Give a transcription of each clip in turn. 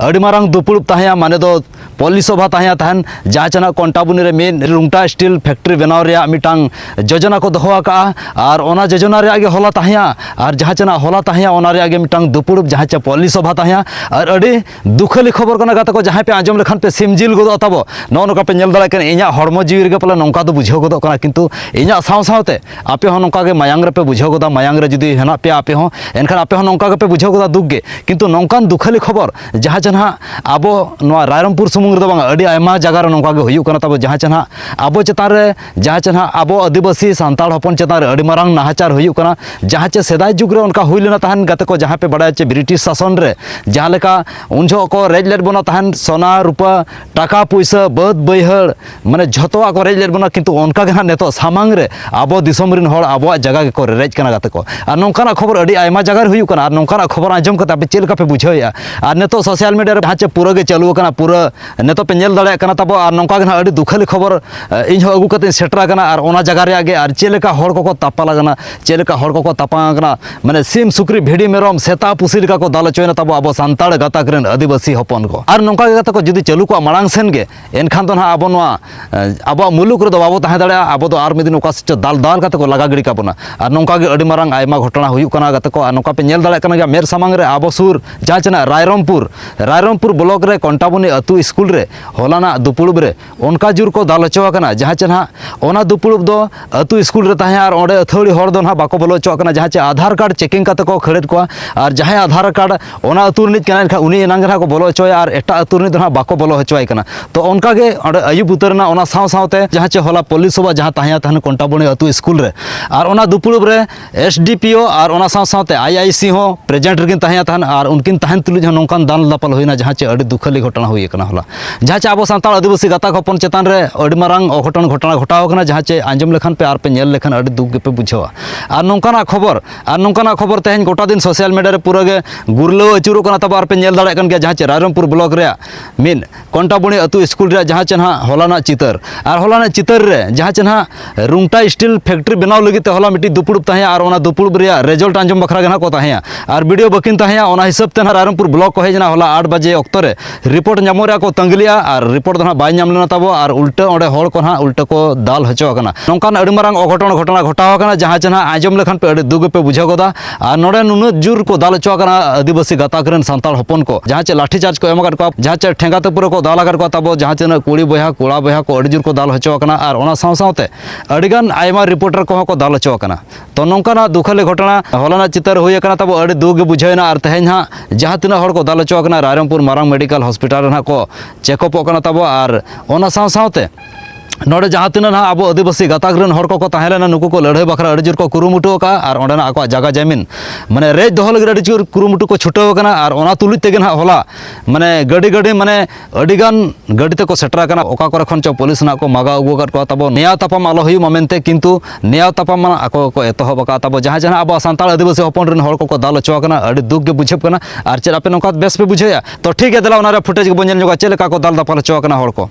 ᱟᱹᱰᱤ ᱢᱟᱨᱟᱝ ᱫᱩᱯᱩᱲᱩᱵ ᱛᱟᱦᱮᱸᱭᱟ ᱢᱟᱱᱮ ᱫᱚ ᱯᱚᱞᱤ ᱥᱚᱵᱷᱟ ᱛᱟᱦᱮᱸᱭᱟ ᱛᱟᱦᱮᱱ ᱡᱟᱦᱟᱸ ᱪᱟᱱᱟ ᱠᱚᱱᱴᱟᱵᱩᱱᱤ ᱨᱮ ᱢᱤᱫ ᱨᱩᱝᱴᱟ ᱥᱴᱤᱞ ᱯᱷᱮᱠᱴᱨᱤ ᱵᱮᱱᱟᱣ ᱨᱮᱭᱟᱜ ᱢᱤᱫᱴᱟᱝ ᱡᱳᱡᱚᱱᱟ ᱠᱚ ᱫᱚᱦᱚ ᱟᱠᱟᱜᱼᱟ ᱟᱨ ᱚᱱᱟ ᱡᱳᱡᱚᱱᱟ ᱨᱮᱭᱟᱜ ᱜᱮ ᱦᱚᱞᱟ ᱛᱟᱦᱮᱸᱭᱟ ᱟᱨ ᱡᱟᱦᱟᱸ ᱪᱟᱱᱟ ᱦᱚᱞᱟ ᱛᱟᱦᱮᱸᱭᱟ ᱚᱱᱟ ᱨᱮᱭᱟᱜ ᱜᱮ ᱢᱤᱫᱴᱟᱝ ᱫᱩᱯᱩᱲᱩᱵ ᱡᱟᱦᱟᱸ ᱪᱮ ᱯᱚᱞᱤ ᱥᱚᱵᱷᱟ ᱛᱟᱦᱮᱸᱭᱟ ᱟᱨ ᱟᱹᱰᱤ ᱫᱩᱠᱷᱟᱹᱞᱤ ᱠᱷᱚᱵᱚᱨ ᱠᱟᱱᱟ ᱜᱟᱛᱮ ᱠᱚ ᱡᱟᱦᱟᱸᱭ ᱯᱮ ᱟᱸᱡᱚᱢ ᱞᱮᱠᱷᱟᱱ ᱯᱮ ᱥᱤᱢ ᱡᱤᱞ ᱜᱚᱫᱚᱜ ᱛᱟᱵᱚ ᱱᱚᱜᱼᱚ ᱱᱚᱝᱠᱟ ᱯᱮ ᱧᱮᱞ ᱫᱟᱲᱮᱭᱟᱜ ᱠᱟᱱᱟ ᱤᱧᱟᱹᱜ ᱦᱚᱲᱢᱚ ᱡᱤᱣᱤ ᱨᱮᱜᱮ ᱯᱟᱞᱮ ᱱᱚᱝᱠᱟ ᱫᱚ ᱵᱩᱡᱷᱟᱹᱣ ᱜᱚᱫᱚᱜ ᱠᱟᱱᱟ ᱠᱤᱱᱛᱩ ᱤᱧᱟᱹᱜ ᱥᱟᱶ ᱥᱟᱶᱛᱮ ᱟᱯᱮ ᱦᱚᱸ ᱱᱚᱝᱠᱟ ᱜᱮ ᱢᱟᱭᱟᱝ ᱨᱮᱯᱮ ᱵᱩᱡᱷᱟᱹᱣ ᱜᱚᱫᱟ ᱢᱟᱭᱟᱝ ᱨᱮ ᱡᱩᱫᱤ ᱦᱮᱱᱟᱜ ᱯᱮᱭᱟ ᱟᱯᱮ ᱦᱚᱸ ᱮᱱᱠᱷᱟᱱ ᱟᱯᱮ ᱦᱚᱸ ᱱᱚᱝᱠᱟ ᱜᱮᱯᱮ ᱵᱩᱡᱷᱟᱹᱣ ᱜᱚᱫᱟ ᱫᱩᱠ ᱜᱮ ᱠᱤᱱᱛᱩ ᱱᱚᱝᱠᱟᱱ ᱫᱩᱠᱷᱟᱹᱞᱤ ᱠᱷᱚᱵᱚᱨ ᱡᱟᱦᱟᱸ ᱪᱮ ᱱᱟᱦᱟᱜ ᱟᱵᱚ ᱱᱚᱣᱟ ᱨᱟᱭᱨᱚᱝᱯᱩᱨ ᱥᱩᱢᱩᱝ ᱨᱮᱫᱚ ᱵᱟᱝ ᱟᱹᱰᱤ ᱟᱭᱢᱟ ᱡᱟᱭᱜᱟ ᱨᱮ ᱱᱚᱝᱠᱟ ᱜᱮ ᱦᱩᱭᱩᱜ ᱠᱟᱱᱟ ᱛᱟᱵᱚ ᱡᱟᱦᱟᱸ ᱪᱮ ᱱᱟᱦᱟᱜ ᱟᱵᱚ ᱪᱮᱛᱟᱱ ᱨᱮ ᱡᱟᱦᱟᱸ ᱪᱮ ᱱᱟᱦᱟᱜ ᱟᱵᱚ ᱟᱹᱫᱤᱵᱟᱹᱥᱤ ᱥᱟᱱᱛᱟᱲ ᱦᱚᱯᱚᱱ ᱪᱮᱛᱟᱱ ᱨᱮ ᱟᱹᱰᱤ ᱢᱟᱨᱟᱝ ᱱᱟᱦᱟᱪᱟᱨ ᱦᱩᱭᱩᱜ ᱠᱟᱱᱟ ᱡᱟᱦᱟᱸ ᱪᱮ ᱥᱮᱫᱟᱭ ᱡᱩᱜᱽ ᱨᱮ ᱚᱱᱠᱟ ᱦᱩᱭ ᱞᱮᱱᱟ ᱛᱟᱦᱮᱱ ᱜᱟᱛᱮ ᱠᱚ ᱡᱟᱦᱟᱸ ᱯᱮ ᱵᱟᱲᱟᱭᱟ ᱪᱮ ᱵᱨᱤᱴᱤᱥ ᱥᱟᱥᱚᱱ ᱨᱮ ᱡᱟᱦᱟᱸ ᱞᱮᱠᱟ ᱩᱱ ᱡᱚᱦᱚᱜ ᱠᱚ ᱨᱮᱡ ᱞᱮᱫ ᱵᱚᱱᱟ ᱛᱟᱦᱮᱱ ᱥᱚᱱᱟ ᱨᱩᱯᱟᱹ ᱴᱟᱠᱟ ᱯᱩᱭᱥᱟᱹ ᱵᱟᱹᱫᱽ ᱵᱟᱹᱭᱦᱟᱹᱲ ᱢᱟᱱᱮ ᱡᱷᱚᱛᱚᱣᱟᱜ ᱠᱚ ᱨᱮᱡ ᱞᱮᱫ ᱵᱚᱱᱟ ᱠᱤᱱᱛᱩ ᱚᱱᱠᱟ ᱜᱮ ᱦᱟᱸᱜ ᱱᱤᱛᱚᱜ ᱥᱟᱢᱟᱝ ᱨᱮ ᱟᱵᱚ ᱫᱤᱥᱚᱢ ᱨᱮᱱ ᱦᱚᱲ ᱟᱵᱚᱣᱟᱜ ᱡᱟᱭᱜᱟ ᱜᱮᱠᱚ ᱨᱮᱡ ᱠᱟᱱᱟ ᱜᱟᱛᱮ ᱠᱚ ᱟᱨ ᱱᱚᱝᱠᱟᱱᱟᱜ ᱠᱷᱚᱵᱚᱨ ᱟᱹᱰᱤ ᱟᱭᱢᱟ ᱡᱟᱭᱜᱟ ᱨᱮ ᱦᱩᱭᱩᱜ ᱠᱟᱱᱟ ᱟᱨ ᱱᱚᱝᱠᱟᱱᱟᱜ ᱠᱷᱚᱵᱚᱨ ᱟᱸᱡᱚᱢ ᱠᱟᱛᱮ ᱟᱯᱮ ᱪᱮᱫ ᱞᱮᱠᱟ ᱯᱮ ᱵᱩᱡᱷᱟᱹᱣᱮᱫᱼᱟ ᱟᱨ ᱱᱤᱛᱚᱜ ᱥᱳᱥᱟᱞ ᱢᱤᱰᱤᱭᱟ ᱨᱮ ᱡᱟᱦᱟᱸ ᱪᱮ ᱯᱩᱨᱟᱹ ᱜᱮ ᱪᱟᱹᱞᱩ ᱟᱠᱟᱱᱟ ᱯᱩᱨᱟᱹ ᱱᱤᱛᱚᱜ ᱯᱮ ᱧᱮᱞ ᱫᱟᱲᱮᱭᱟᱜ ᱠᱟᱱᱟ ᱛᱟᱵᱚ ᱟᱨ ᱱᱚᱝᱠᱟ ᱜᱮ ᱦᱟᱸᱜ ᱟᱹᱰᱤ ᱫᱩᱠᱷᱟᱹᱞᱤ ᱠᱷᱚᱵᱚᱨ ᱤᱧ ᱦᱚᱸ ᱟᱹᱜᱩ ᱠᱟᱛᱮ ᱥᱮᱴᱮᱨ ᱟᱠᱟᱱᱟ ᱟᱨ ᱚᱱᱟ ᱡᱟᱭᱜᱟ ᱨᱮᱭᱟᱜ ᱜᱮ ᱟᱨ ᱪᱮᱫ ᱞᱮᱠᱟ ᱦᱚᱲ ᱠᱚᱠᱚ ᱛᱟᱯᱟᱞ ᱟᱠᱟᱱᱟ ᱪᱮᱫ ᱞᱮᱠᱟ ᱦᱚᱲ ᱠᱚᱠᱚ ᱛᱟᱯᱟᱢ ᱟᱠᱟᱱᱟ ᱢᱟᱱᱮ ᱥᱤᱢ ᱥᱩᱠᱨᱤ ᱵᱷᱤᱰᱤ ᱢᱮᱨᱚᱢ ᱥᱮᱛᱟ ᱯᱩᱥᱤ ᱞᱮᱠᱟ ᱠᱚ ᱫᱟᱞ ᱦᱚᱪᱚᱭᱮᱱᱟ ᱛᱟᱵᱚ ᱟᱵᱚ ᱥᱟᱱᱛᱟᱲ ᱜᱟᱛᱟᱠ ᱨᱮᱱ ᱟᱹᱫᱤᱵᱟᱹᱥᱤ ᱦᱚᱯᱚᱱ ᱠᱚ ᱟᱨ ᱱᱚᱝᱠᱟ ᱜᱮ ᱜᱟᱛᱮ ᱠᱚ ᱡᱩᱫᱤ ᱪᱟᱹᱞᱩ ᱠᱚᱜᱼᱟ ᱢᱟᱲᱟᱝ ᱥᱮᱱ ᱜᱮ ᱮᱱᱠᱷᱟᱱ ᱫᱚ ᱱᱟᱦᱟᱜ ᱟᱵᱚ ᱱᱚᱣᱟ ᱟᱵᱚᱣᱟᱜ ᱢᱩᱞᱩᱠ ᱨᱮᱫᱚ ᱵᱟᱵᱚ ᱛᱟᱦᱮᱸ ᱫᱟᱲᱮᱭᱟᱜᱼᱟ ᱟᱵᱚ ᱫᱚ ᱟᱨ ᱢᱤᱫ ᱫᱤᱱ ᱚᱠᱟ ᱥᱮᱫ ᱪᱚ ᱫᱟᱞ ᱫᱟᱞ ᱠᱟᱛᱮ ᱠᱚ ᱞᱟᱜᱟ ᱜᱤᱰᱤ ᱠᱟᱵᱚᱱᱟ ᱟᱨ ᱱᱚᱝᱠᱟ ᱜᱮ ᱟᱹᱰᱤ ᱢᱟᱨᱟᱝ ᱟᱭᱢᱟ ᱜᱷᱚᱴᱚᱱᱟ ᱦᱩᱭᱩᱜ ᱠᱟᱱᱟ ᱜᱟᱛᱮ ᱠᱚ ᱟᱨ ᱱᱚᱝᱠᱟ ᱯᱮ ᱧᱮᱞ ᱫᱟᱲᱮᱭᱟᱜ ᱠᱟᱱᱟ ᱜᱮᱭᱟ ᱢᱮᱫ ᱥᱟᱢᱟᱝ ᱨᱮ ᱟᱵᱚ ᱥᱩᱨ ᱡᱟᱦᱟᱸ ᱪᱮ ᱱᱟᱦᱟᱜ ᱨᱟᱭᱨᱚᱝᱯᱩᱨ ᱨᱟᱭᱨᱚᱝᱯᱩᱨ ᱵᱞᱚᱠ ᱨᱮ ᱠᱚᱱᱴᱟᱵᱚᱱᱤ ᱟᱹᱛᱩ ᱥᱠᱩᱞ ᱨᱮ ᱦᱚᱞᱟᱱᱟᱜ ᱫᱩᱯᱩᱲᱩᱵ ᱨᱮ ᱚᱱᱠᱟ ᱡᱳᱨ ᱠᱚ ᱫᱟᱞ ᱦᱚᱪᱚ ᱟᱠᱟᱱᱟ ᱡᱟᱦᱟᱸ ᱪᱮ ᱱᱟᱦᱟᱜ ᱚᱱᱟ ᱫᱩᱯᱩᱲᱩᱵ ᱫᱚ ᱟᱹᱛᱩ ᱥᱠᱩᱞ ᱨᱮ ᱛᱟᱦᱮᱸ ᱟᱨ ᱚᱸᱰᱮ ᱟᱹᱛᱷᱟᱹᱣᱲᱤ ᱦᱚᱲ ᱫᱚ ᱱᱟᱦᱟᱜ ᱵᱟᱠᱚ ᱵᱚᱞᱚ ᱦᱚᱪᱚᱣᱟᱜ ᱠᱟᱱᱟ ᱡᱟᱦᱟᱸ ᱪᱮ ᱟᱫᱷᱟᱨ ᱠᱟᱨᱰ ᱪᱮᱠᱤᱝ ᱠᱟᱛᱮ ᱠᱚ ᱠᱷᱟᱹᱲᱮᱫ ᱠᱚᱣᱟ ᱟᱨ ᱡᱟᱦᱟᱸᱭ ᱟᱫᱷᱟᱨ ᱠᱟᱨᱰ ᱚᱱᱟ ᱟᱹᱛᱩ ᱨᱤᱱᱤᱡ ᱠᱟᱱᱟᱭ ᱮᱱᱠᱷᱟᱱ ᱩᱱᱤ ᱮᱱᱟᱝ ᱜᱮ ᱱᱟᱦᱟᱜ ᱠᱚ ᱵᱚᱞᱚ ᱦᱚᱪᱚᱣᱟᱭᱟ ᱟᱨ ᱮᱴᱟᱜ ᱟᱹᱛᱩ ᱨᱤᱱᱤᱡ ᱫᱚ ᱱᱟᱦᱟᱜ ᱵᱟᱠᱚ ᱵᱚᱞᱚ ᱦᱚᱪᱚᱣᱟᱭ ᱠᱟᱱᱟ ᱛᱚ ᱚᱱᱠᱟ ᱜᱮ ᱚᱸᱰᱮ ᱟᱹᱭᱩᱵ ᱩᱛᱟᱹᱨᱮᱱᱟ ᱚᱱᱟ ᱥᱟᱶ ᱥᱟᱶᱛᱮ ᱡᱟᱦᱟᱸ ᱪᱮ ᱦᱚᱞᱟ ᱯᱚᱞᱞᱤ ᱥᱚᱵᱷᱟ ᱡᱟᱦᱟᱸ ᱛᱟᱦᱮᱸ ᱛᱟᱦᱮᱱ ᱠᱚᱱᱴᱟᱵᱚᱱᱤ ᱟᱹᱛᱩ ᱥᱠᱩᱞ ᱨᱮ ᱟᱨ ᱚᱱᱟ ᱫᱩᱯᱩᱲᱩᱵ ᱨᱮ ᱮᱥ ᱰᱤ ᱯᱤ ᱳ ᱟᱨ ᱚᱱᱟ ᱥᱟᱶ ᱥᱟᱶᱛᱮ ᱟᱭ ᱟᱭ ᱥᱤ ᱦᱚᱸ ᱯᱨᱮᱡᱮᱱᱴ ᱨᱮᱠᱤᱱ ᱛᱟᱦᱮᱸ ᱛᱟᱦᱮᱱ ᱟᱨ ᱩᱱᱠᱤᱱ ᱛᱟᱦᱮᱱ ᱛᱩᱞᱩᱡ ᱦᱚᱸ ᱱᱚᱝᱠᱟᱱ ᱫᱟᱱ ᱫᱟᱯᱟᱞ ᱦᱩᱭᱱᱟ ᱡᱟᱦᱟᱸ ᱪᱮ ᱟᱹᱰᱤ ᱫᱩᱠᱷᱟᱹᱞᱤ ᱜᱷᱚᱴᱚᱱᱟ ᱦᱩᱭ ᱟᱠᱟᱱᱟ ᱦᱚᱞᱟ ᱡᱟᱦᱟᱸ ᱪᱮ ᱟᱵᱚ ᱥᱟᱱᱛᱟᱲ ᱟᱹᱫᱤᱵᱟᱹᱥᱤ ᱜᱟᱛᱟᱠ ᱦᱚᱯᱚᱱ ᱪᱮᱛᱟᱱ ᱨᱮ ᱟᱹᱰᱤ ᱢᱟᱨᱟᱝ ᱚᱜᱷᱚᱴᱚᱱ ᱜᱷᱚᱴᱚᱱᱟ ᱜᱷᱚᱴᱟᱣ ᱟᱠᱟᱱᱟ ᱡᱟᱦᱟᱸ ᱪᱮ ᱟᱸᱡᱚᱢ ᱞᱮᱠᱷᱟᱱ ᱯᱮ ᱟᱨ ᱯᱮ ᱧᱮᱞ ᱞᱮᱠᱷᱟᱱ ᱟᱹᱰᱤ ᱫᱩᱠ ᱜᱮᱯᱮ ᱵᱩᱡᱷᱟᱹᱣᱟ ᱟᱨ ᱱᱚᱝᱠᱟᱱᱟᱜ ᱠᱷᱚᱵᱚᱨ ᱟᱨ ᱱᱚᱝᱠᱟᱱᱟᱜ ᱠᱷᱚᱵᱚᱨ ᱛᱮᱦᱮᱧ ᱜᱚᱴᱟ ᱫᱤᱱ ᱥᱳᱥᱟᱞ ᱢᱤᱰᱤᱭᱟ ᱨᱮ ᱯᱩᱨᱟᱹ ᱜᱮ ᱜᱩᱨᱞᱟᱹᱣ ᱟᱹᱪᱩᱨᱚᱜ ᱠᱟᱱᱟ ᱛᱟᱵᱚ ᱟᱨ ᱯᱮ ᱧᱮᱞ ᱫᱟᱲᱮᱭᱟᱜ ᱠᱟᱱ ᱜᱮᱭᱟ ᱡᱟᱦᱟᱸ ᱪᱮ ᱨᱟᱭᱨᱚᱝᱯᱩᱨ ᱵᱞᱚᱠ ᱨᱮᱭᱟᱜ ᱢᱤᱫ ᱠᱚᱱᱴᱟᱵᱩᱱᱤ ᱟᱹᱛᱩ ᱥᱠᱩᱞ ᱨᱮᱭᱟᱜ ᱡᱟᱦᱟᱸ ᱪᱮ ᱱᱟᱦᱟᱜ ᱦᱚᱞᱟᱱᱟᱜ ᱪᱤᱛᱟᱹᱨ ᱟᱨ ᱦᱚᱞᱟᱱᱟᱜ ᱪᱤᱛᱟᱹᱨ ᱨᱮ ᱡᱟᱦᱟᱸ ᱪᱮ ᱱᱟᱦᱟᱜ ᱨᱩᱝᱴᱟ ᱥᱴᱤᱞ ᱯᱷᱮᱠᱴᱨᱤ ᱵᱮᱱᱟᱣ ᱞᱟᱹᱜᱤᱫ ᱛᱮ ᱦᱚᱞᱟ ᱢᱤᱫᱴᱤᱡ ᱫᱩᱯᱲᱩᱵ ᱛᱟᱦᱮᱸᱭᱟ ᱟᱨ ᱚᱱᱟ ᱫᱩᱯᱲᱩᱵ ᱨᱮᱭᱟᱜ ᱨᱮᱡᱚᱞᱴ ᱟᱸᱡᱚᱢ ᱵᱟᱠᱷᱨᱟ ᱜᱮ ᱱᱟᱦᱟᱜ ᱠᱚ ᱛᱟᱦᱮᱸᱭᱟ ᱟᱨ ᱵᱤᱰᱤᱭᱳ ᱵᱟᱹᱠᱤᱱ ᱛᱟᱦᱮᱸᱭᱟ ᱚᱱᱟ ᱦᱤᱥᱟᱹᱵ ᱛᱮ ᱱᱟᱦᱟᱜ ᱨᱟᱭᱨᱚᱝᱯᱩᱨ ᱵᱞᱚᱠ ᱠᱚ ᱦᱮᱡ ᱮᱱᱟ ᱦᱚᱞᱟ ᱟᱴ ᱵᱟᱡᱮ ᱚᱠᱛᱚ ᱨᱮ ᱨᱤᱯᱳᱨᱴ ᱧᱟᱢᱚᱜ ᱨᱮᱭᱟᱜ ᱠᱚ ᱛᱟᱺᱜᱤ ᱞᱮᱫᱼᱟ ᱟᱨ ᱨᱤᱯᱳᱨᱴ ᱫᱚ ᱱᱟᱦᱟᱜ ᱵᱟᱭ ᱧᱟᱢ ᱞᱮᱱᱟ ᱛᱟᱵᱚ ᱟᱨ ᱩᱞᱴᱟᱹ ᱚᱸᱰᱮ ᱦᱚᱲ ᱠᱚ ᱱᱟᱦᱟᱜ ᱩᱞᱴᱟᱹ ᱠᱚ ᱫᱟᱞ ᱦᱚᱪᱚ ᱟᱠᱟᱱᱟ ᱱᱚᱝᱠᱟᱱ ᱟᱹᱰᱤ ᱢᱟᱨᱟᱝ ᱚᱜᱷᱚᱴᱚᱱ ᱜᱷᱚᱴᱚᱱᱟ ᱜᱷᱚᱴᱟᱣ ᱟᱠᱟᱱᱟ ᱡᱟᱦᱟᱸ ᱪᱮ ᱱᱟᱦᱟᱜ ᱟᱸᱡᱚᱢ ᱞᱮᱠᱷᱟᱱ ᱯᱮ ᱟᱹᱰᱤ ᱫᱩᱠ ᱜᱮᱯᱮ ᱵᱩᱡᱷᱟᱹᱣ ᱜᱚᱫᱟ ᱟᱨ ᱱᱚᱰᱮ ᱱᱩᱱᱟᱹᱜ ᱡᱩᱨ ᱠᱚ ᱫᱟᱞ ᱦᱚᱪᱚ ᱟᱠᱟᱱᱟ ᱟᱹᱫᱤᱵᱟᱹᱥᱤ ᱜᱟᱛᱟᱠ ᱨᱮᱱ ᱥᱟᱱᱛᱟᱲ ᱦᱚᱯᱚᱱ ᱠᱚ ᱡᱟᱦᱟᱸ ᱪᱮᱫ ᱞᱟᱴᱷᱤ ᱪᱟᱨᱡᱽ ᱠᱚ ᱮᱢ ᱟᱠᱟᱫ ᱠᱚᱣᱟ ᱡᱟᱦᱟᱸ ᱪᱮᱫ ᱴᱷᱮᱸᱜᱟ ᱛᱮ ᱯᱩᱨᱟᱹ ᱠᱚ ᱫᱟᱞ ᱟᱠᱟᱫ ᱠᱚᱣᱟ ᱛᱟᱵᱚ ᱡᱟᱦᱟᱸ ᱛᱤᱱᱟᱹᱜ ᱠᱩᱲᱤ ᱵᱚᱭᱦᱟ ᱠᱚᱲᱟ ᱵᱚᱭᱦᱟ ᱠᱚ ᱟᱹᱰᱤ ᱡᱩᱨ ᱠᱚ ᱫᱟᱞ ᱦᱚᱪᱚ ᱟᱠᱟᱱᱟ ᱟᱨ ᱚᱱᱟ ᱥᱟᱶ ᱥᱟᱶᱛᱮ ᱟᱹᱰᱤᱜᱟᱱ ᱟᱭᱢᱟ ᱨᱤᱯᱳᱨᱴᱟᱨ ᱠᱚᱦᱚᱸ ᱠᱚ ᱫᱟᱞ ᱦᱚᱪᱚ ᱟᱠᱟᱱᱟ ᱛᱚ ᱱᱚᱝᱠᱟᱱᱟᱜ ᱫᱩᱠᱷᱟᱹᱞᱤ ᱜᱷᱚᱴᱚᱱᱟ ᱦᱚᱞᱟᱱᱟᱜ ᱪᱤᱛᱟᱹᱨ ᱦᱩᱭ ᱟᱠᱟᱱᱟ ᱛᱟᱵᱚ ᱟᱹᱰᱤ ᱫᱩᱠ ᱜᱮ ᱵᱩᱡᱷᱟᱹᱣᱮᱱᱟ ᱟᱨ ᱛᱮᱦᱮᱧ ᱦᱟᱸᱜ ᱡᱟᱦᱟᱸ ᱛᱤᱱᱟᱹᱜ ᱦᱚᱲ ᱠᱚ ᱫᱟᱞ ᱦᱚᱪᱚ ᱟᱠᱟᱱᱟ ᱨᱟᱭᱨᱚᱝᱯᱩᱨ ᱢᱟᱨᱟᱝ ᱢᱮᱰᱤᱠᱟᱞ ᱦᱚᱥᱯᱤᱴᱟᱞ ᱨᱮ ᱦᱟᱸᱜ ᱠᱚ ᱪᱮᱠᱚᱯᱚᱜ ᱠᱟᱱᱟ ᱛᱟᱵᱚ ᱟᱨ ᱚᱱᱟ ᱥᱟᱶ ᱥᱟᱶᱛᱮ ᱱᱚᱰᱮ ᱡᱟᱦᱟᱸ ᱛᱤᱱᱟᱹᱜ ᱱᱟᱦᱟᱜ ᱟᱵᱚ ᱟᱹᱫᱤᱵᱟᱹᱥᱤ ᱜᱟᱛᱟᱠ ᱨᱮᱱ ᱦᱚᱲ ᱠᱚᱠᱚ ᱛᱟᱦᱮᱸ ᱞᱮᱱᱟ ᱱᱩᱠᱩ ᱠᱚ ᱞᱟᱹᱲᱦᱟᱹᱭ ᱵᱟᱠᱷᱨᱟ ᱟᱹᱰᱤ ᱡᱳᱨ ᱠᱚ ᱠᱩᱨᱩᱢᱩᱴᱩ ᱟᱠᱟᱫᱼᱟ ᱟᱨ ᱚᱸᱰᱮᱱᱟᱜ ᱟᱠᱚᱣᱟᱜ ᱡᱟᱭᱜᱟ ᱡᱟᱹᱢᱤᱱ ᱢᱟᱱᱮ ᱨᱮᱡ ᱫᱚᱦᱚ ᱞᱟᱹᱜᱤᱫ ᱟᱹᱰᱤ ᱡᱳᱨ ᱠᱩᱨᱩᱢᱩᱴᱩ ᱠᱚ ᱪᱷᱩᱴᱟᱹᱣ ᱟᱠᱟᱱᱟ ᱟᱨ ᱚᱱᱟ ᱛᱩᱞᱩᱡ ᱛᱮᱜᱮ ᱱᱟᱦᱟᱜ ᱦᱚᱞᱟ ᱢᱟᱱᱮ ᱜᱟᱹᱰᱤ ᱜᱟᱹᱰᱤ ᱢᱟᱱᱮ ᱟᱹᱰᱤᱜᱟᱱ ᱜᱟᱹᱰᱤ ᱛᱮᱠᱚ ᱥᱮᱴᱮᱨ ᱟᱠᱟᱱᱟ ᱚᱠᱟ ᱠᱚᱨᱮ ᱠᱷᱚᱱ ᱪᱚ ᱯᱩᱞᱤᱥ ᱱᱟᱦᱟᱜ ᱠᱚ ᱢᱟᱜᱟᱣ ᱟᱹᱜᱩ ᱟᱠᱟᱫ ᱠᱚᱣᱟ ᱛᱟᱵᱚ ᱱᱮᱭᱟᱣ ᱛᱟᱯᱟᱢ ᱟᱞᱚ ᱦᱩᱭᱩᱜ ᱢᱟ ᱢᱮᱱᱛᱮ ᱠᱤᱱᱛᱩ ᱱᱮᱭᱟᱣ ᱛᱟᱯᱟᱢ ᱢᱟ ᱟᱠᱚ ᱠᱚ ᱮᱛᱚᱦᱚᱵ ᱟᱠᱟᱫ ᱛᱟᱵᱚ ᱡᱟᱦᱟᱸ ᱡᱟᱦᱟᱸ ᱟᱵᱚ ᱥᱟᱱᱛᱟᱲ ᱟᱹᱫᱤᱵᱟᱹᱥᱤ ᱦᱚᱯᱚᱱ ᱨᱮᱱ ᱦᱚᱲ ᱠᱚᱠᱚ ᱫᱟᱞ ᱦᱚᱪᱚ ᱟᱠᱟᱱᱟ ᱟᱹᱰᱤ ᱫᱩᱠ ᱜᱮ ᱵᱩᱡᱷᱟᱹᱜ ᱠᱟᱱᱟ ᱟᱨ ᱪᱮᱫ ᱟᱯᱮ ᱱᱚᱝᱠᱟ ᱵᱮᱥ ᱯᱮ ᱵᱩᱡᱷᱟᱹᱣᱮᱫᱼᱟ ᱛᱚ ᱴᱷᱤᱠ ᱜᱮᱭᱟ ᱫᱮᱞᱟ ᱚᱱᱟᱨᱮ ᱯᱷᱩᱴᱮᱡᱽ ᱜᱮᱵᱚᱱ ᱧᱮᱞ ᱧᱚᱜᱟ ᱪᱮᱫ ᱞᱮᱠᱟ ᱠᱚ ᱫᱟᱞ ᱫᱟᱯᱟᱞ ᱦᱚᱪᱚ ᱟᱠᱟᱱᱟ ᱦᱚᱲ ᱠᱚ